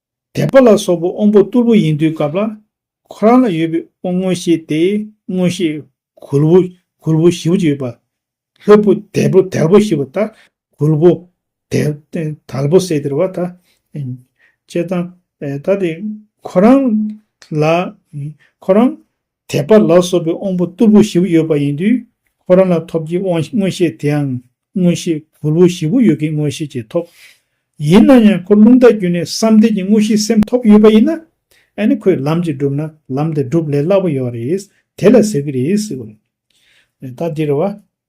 དད་པ་ལ་སོགས་པའི་དབང་པོ་གཏུར་བུ་ཡིན་དུས་སྐབས་ལ། ཁོ་རང་ལ་ཡོད་པའི་དབང་མངོན་ཤེས་དེས་མངོན་ཤེས་གུར་བུ་གུར་བུ་བཞི་བོ་ཅིག་ཡོད་པ། ལྷོད་པོ་དལ་པོ་དལ་པོ་བཞི་བོ་དག་གུར་བུ། དལ་པོ་སེ་དེར་བ་དང། བཅས་དང། ད་དེ་ཁོ་རང་ལ། ཁོ་རང། དད་པ་ལ་སོགས་པའི་དབང་པོ་རྟུལ་པོ་བཞི་པོ་ཡོད་པ་ཡིན་དུས་ཁོ་རང་ལ་ཐོབ་ཀྱི་དབང་མངོན་ཤེས་དེའང་མངོན་ཤེས་གུར་བུ་བཞི་པོ་ཡོད་ཀྱི་མངོན་ཤེས་ཀྱིས་ཐོབ། ཡིན་ན་ཡང་ཁོ་རླུང་རྟ་རྒྱུད་ནས་བསམ་གཏན་གྱི་དངོས་གཞིའི་སེམས་ཐོབ་ཡོད་པ་ཡིན་ན། ཨ་ནི་ཁོས་ལམ་གཅིག་བསྒྲུབས་ན་ལམ་དེ་སྒྲུབ་ལས་སླ་པོ་ཡོད་རེད། དེ་ལ་ཟེར་གྱི་རེད། ད་འདིར་བ།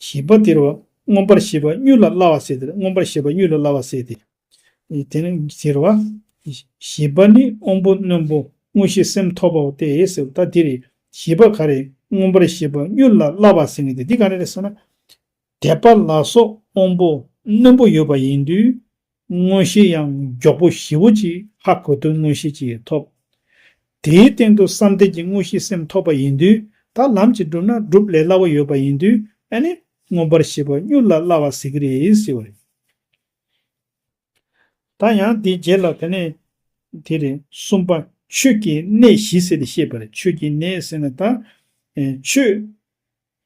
བཞི་པ་དེར་བ་མངོན་པར་ཤེས་པ་གཉུག་ལ་སླ་བ་སྲེད་དེར་མངོན་པར་ཤེས་པ་གཉུག་ལ་སླ་བ་སྲེད་དེ། དེར་བ། བཞི་པ་ནི་དབང་པོ་རྣོན་པོ་དངོས་གཞི་སེམས་ཐོབ་པའོ་སྟེ་ཟེར་ད་དེ་རེད་བཞི་པ་ག་རེད་མངོན་པར་ཤེས་པ་གཉུག་ལ་སླ་བ་སྲེད་ངེས་ཏེ་འདི་ག་རེ་རེད་ཟེར་ན། དད་པ་ལ་སོགས་དབང་པོ་རྣོན་པོ་ཡོད་པ་ཡིན་དུས་མངོན་ཤེས་ཡང་མགྱོགས་པོ་ཞི་བོ་གཅིག་ཧ་གོ་དོན་མངོན་ཤེས་ཀྱིས་ཐོབ། དེའི་སྟེང་དུ་བསམ་གཏན་གྱི་མངོན་ཤེས་སེམས་ཐོབ་པ་ཡིན་དུས་ད་ལམ་གྱིས་བསྒྲུབ་ན་སྒྲུབ་ལས་སླ་བོ་ཡོད་པ་ཡིན་དུས་ཨེ་ནི་མངོན་པར་ཤེས་པ་མྱུར་ལ་སླ་བ་ཟེར་གྱི་རེད་ཟེར་བ་རེད། ད་ཡང་དེའི་རྗེས་ལ་དེ་ནས་དེ་རེད། གསུམ་པ། ཆོས་ཀྱི་གནས་བཞི་ཟེར་ཏེ་བཤད་པར་ཆོས་ཀྱི་གནས་ཟེར་ན་ད། ཆོས།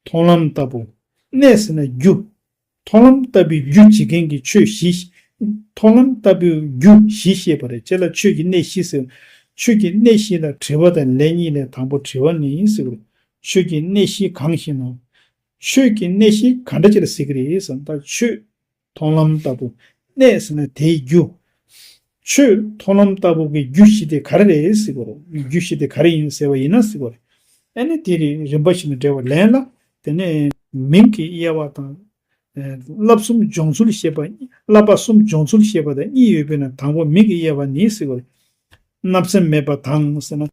མཐོང་ལམ་ལྟ་བུ། གནས་ཟེར་ན་རྒྱུ། མཐོང་ལམ་ལྟ་བུའི་རྒྱུ་བྱེད་མཁན་གྱི་ཆོས་བཞི། མཐོང་ལམ་ལྟ་བུའི་རྒྱུ་བཞི་ཤེས་པ་རེད་ཅེས་ལ་ཆོས་ཀྱི་གནས་བཞི་ཟེར། ཆོས་ཀྱི་གནས་བཞི་ལ་དྲི་བ་དང་ལན་གཉིས་ལས་དང་པོ་དྲི་བ་ནི་ཡིན་ཟེར། ཆོས་ཀྱི་གནས་བཞི་གང་ཞེ་ན། ཆོས་ཀྱི་གནས་བཞི་ག་འདྲ་ཅེས་ལ་ཟེར་གྱི་རེད་ཟེར་ན། ཆོས། མཐོང་ལམ་ལྟ་བུ་གནས་ཟེར་ན་དེའི་རྒྱུ། ཆོས་མཐོང་ལམ་ལྟ་བུ་གི་རྒྱུ་བཞི་དེ་ག་རེ་རེད་ཟེར་དགོས་རེད། རྒྱུ་བཞི་དེ་ག་རེ་ཡིན་ཟེར་བ་ཡིན་ན་ཟེར་དགོས་རེད། ཨེ་ནི་དེ་རིང་རིམ་པ་ཞིག་ནས་འགྲེལ་བ་ལེན་ལ། དེ་ནས། མིང་གི་དབྱེ་བ་དང། བསླབ་གསུམ་སྦྱོང་ཚུལ་ཞེས་པ། བསླབ་པ་གསུམ་སྦྱོང་ཚུལ་ཞེས་པ་དང་གཉིས་ཡོད་པས་ན་དང་པོ་མིང་གི་དབྱེ་བ་ནི་ཟེར་དགོས་རེད། བརྣབ་སེམས་མེད་པ་དང་ཟེར་ན།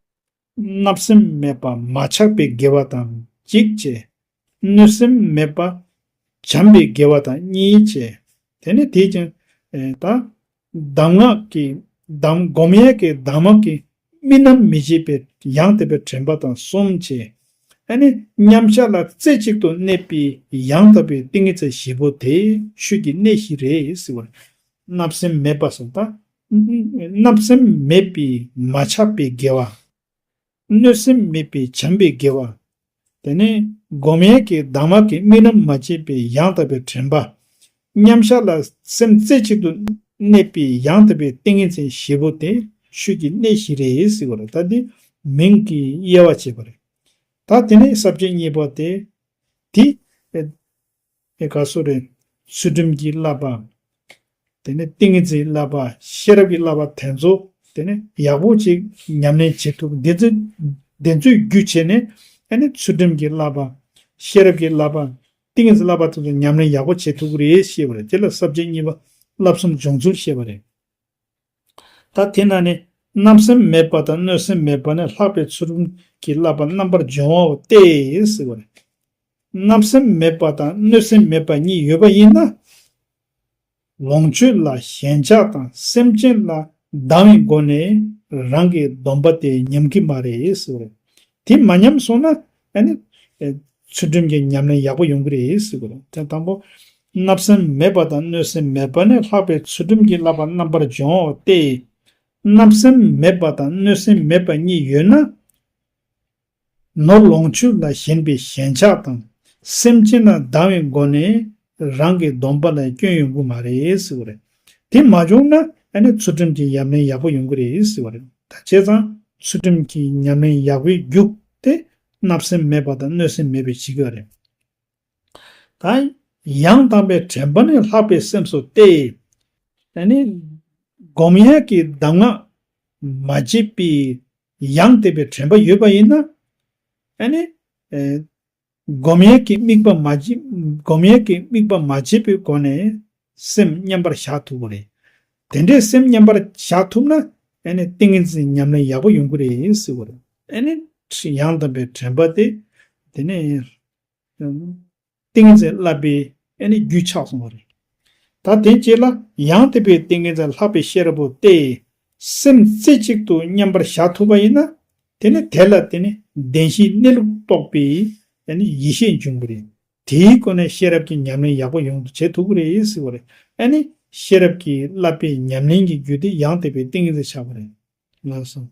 བརྣབ་སེམས་མེད་པ་མ་ཆགས་པའི་དགེ་བ་དང་གཅིག་ཅེས། གནོད་སེམས་མེད་པ་བྱམས་པའི་དགེ་བ་དང་གཉིས་ཅེས། དེ་ནས་དེས་ཀྱང། དང། གདམས་ངག་གི། གདམས་བསྒོམ་ཡས་ཀྱི་གདམས་ངག་གི། རྨི་ལམ་མི་བྱེད་པའི་ཡང་དག་པའི་དྲན་པ་དང་གསུམ་ཅེས། ཨ་ནི་མཉམ་གཞག་ལ་རྩེ་གཅིག་ཏུ་གནས་པའི་ཡང་དག་པའི་ཏིང་ངེ་འཛིན་བཞི་པོ་དེ་ཆོས་ཀྱི་གནས་བཞི་རེད། བརྣབ་སེམས་མེད་པ་སོགས་དང། བརྣབ་སེམས་མེད་པའི་མ་ཆགས་པའི་དགེ་བ། གནོད་སེམས་མེད་པའི་བྱམས་པའི་དགེ་བ། དེ་ནས་སྒོམ་ཡན་གྱི་གདམས་ངག་གིས་རྨི་ལམ་མ་སྐྱེས་པའི་ཡང་དག་པའི་དྲན་པ། མཉམ་གཞག་ལ་སེམས་རྩེ་གཅིག་ཏུ་གནས་པའི་ཡང་དག་པའི་ཏིང་ངེ་འཛིན་བཞི་པོ་དེ་ཆོས་ཀྱི་གནད་བཞི་རེད་ཟེར་བ་རེད་ད་དེ་མིང་གི་དབྱེ་བ་བྱས་པ་རེད། ད་དེ་ནས་ཟབ་ཆོས་གཉིས་པ་དེ། དེ། ཨེ་ཀ་སུ་རའི་ཚུལ་ཁྲིམས་ཀྱི་བསླབ་པའམ། དེ་ནས་ཏིང་ངེ་འཛིན་བསླབ་པ་ཤེས་རབ་ཀྱི་བསླབ་པ་དེ་ཚོ་དེ་ནི་ཡག་པོ་ཅིག་ཉམས་ལེན་བྱེད་ཐུབ་འདི་ཚོ་འདི་ཚོའི་རྒྱུ་བྱས་ནས་ཨེ་ནི་ཚུལ་ཁྲིམས་ཀྱི་བསླབ་པ། ཤེས་རབ་ཀྱི་བསླབ་པ། ཏིང་ངེ་འཛིན་བསླབ་པ་དེ་ཚོ་ཉམས་ལེན་ཡག་པོ་བྱེད་ཐུབ་ཀྱི་རེད་ཤེས་པ་རེད་དེ་ལ་ཟབ་ཆོས་གཉིས་པ་བསླབ་གསུམ་སྦྱོང་ཚུལ་ཤེས་པ་རེད། ད་དེ་ན་ནི་རྣམ་སེམས་མེད་པ་དང་གནོད་སེམས་མེད་པ་ནི་ལྷག་པའི་ཚུལ་རུམ་གྱིས་བསླབ་པ་རྣམ་པར་སྦྱོང་བའོ་སྟེ། རྣམ་སེམས་མེད་པ་དང་གནོད་སེམས་མེད་པ་གཉིས་ཡོད་པ་ཡིན་ན། ལོངས་སྤྱོད་ལ་ཞེན་ཆགས་དང་སེམས་ཅན་ལ་སྡང་བའི་སྒོ་ནས་རང་གི་སྡོམ་པ་དེ་ཉམས་ཀྱི་མ་རེད། དེ་མ་ཉམས་སོང་ན་ཡང་ནི། ཚུལ་ཁྲིམས་ཀྱི་ཉམས་ལེན་ཡག་པོ་ཡོང་གི་རེད་ཟེར་དགོས་རེད་དེ་དང་པོ། བརྣབ་སེམས་མེད་པ་དང་གནོད་སེམས་མེད་པ་ནི་ལྷག་པའི་ཚུལ་ཁྲིམས་ཀྱིས་བསླབ་པ་རྣམ་པར་སྦྱོང་འོག་སྟེ། བརྣབ་སེམས་མེད་པ་དང་གནོད་སེམས་མེད་པ་གཉིས་ཡོད་ན། ནོར་ལོངས་སྤྱོད་ལ་ཞེན་པའི་ཞེན་ཆགས་དང་སེམས་ཅན་ལ་སྡང་བའི་སྒོ་ནས་རང་གི་སྡོམ་པ་ལ་སྐྱོན་ཡོང་གི་མ་རེད་ཟེར་བ་རེད། དེ་མ་བྱུང་ན་ཚུལ་ཁྲིམས་ཀྱི་ཉམས་ལེན་ཡག་པོ་ཡོང་གི་རེད་ཟེར་བ་རེད། ད་བྱས་ཙང་ཚུལ་ཁྲིམས་ཀྱི་ཉམས་ལེན་ཡག་པོའི་རྒྱུགས་དེ་བརྣབ་སེམས་མེད་པ་དང་གནོད་སེམས་མེད་པའི་བྱེད་གི་རེད། ད་ཡང་དམ་པའི་དྲན་པ་ནི་ལྷག་པའི་སེམས་སུ་གཏད། སྒོམ་ཡས་ཀྱི་གདམས་ངག་མ་བརྗེད་པའི་ཡང་དད་པའི་དྲན་པ་ཡོད་པ་ཡིན་ན། སྒོམ་ཡས་ཀྱི་དམིགས་པ་མ། སྒོམ་ཡས་ཀྱི་དམིགས་པ་མ་བྱས་པའི་སྒོ་ནས་སེམས་མཉམ་པར་བཞག་ཐུབ་བོ་རེད། དེ་འདྲའི་སེམས་མཉམ་པར་བཞག་ཐུབ་ན། ཏིང་ངེ་འཛིན་ཉམས་ལེན་ཡག་པོ་ཡོང་གི་རེད་ཟེར་བ་རེད། ཡང་དམ་པའི་དྲན་པ་དེ། དེ་ནས་ཏིང་ངེ་འཛིན་བསླབ་པའི་རྒྱུད་ཆགས་སོང་བ་རེད། ད་དེ་རྗེས་ལ་ཡང་དེ་པའི་ཏིང་ངེ་འཛིན་ལྷག་པའི་ཤེས་རབ་པོ་ཏེ། སེམས་རྩེ་གཅིག་ཏུ་མཉམ་པར་བཞག་ཐུབ་པ་ཡིན་ན། དེ་ནི་དེ་ལ་བརྟེན་ནས་བདེན་བཞིའི་གནས་ལུགས་རྟོགས་པའི་ཡེ་ཤེས་འབྱུང་གི་རེད། དེའི་སྒོ་ནས་ཤེས་རབ་ཀྱི་ཉམས་ལེན་ཡག་པོ་ཡོང་དུ་བྱེད་ཐུབ་ཀྱི་རེད་ཟེར་བ་རེད། ཨ་ནི། ཤེས་རབ་ཀྱི་བསླབ་པའི་ཉམས་ལེན་གྱི་རྒྱུ་དེ་ཡང་དེ་པའི་ཏིང་ངེ་འཛིན་ཆགས་པ་རེད། ངག་བཟང།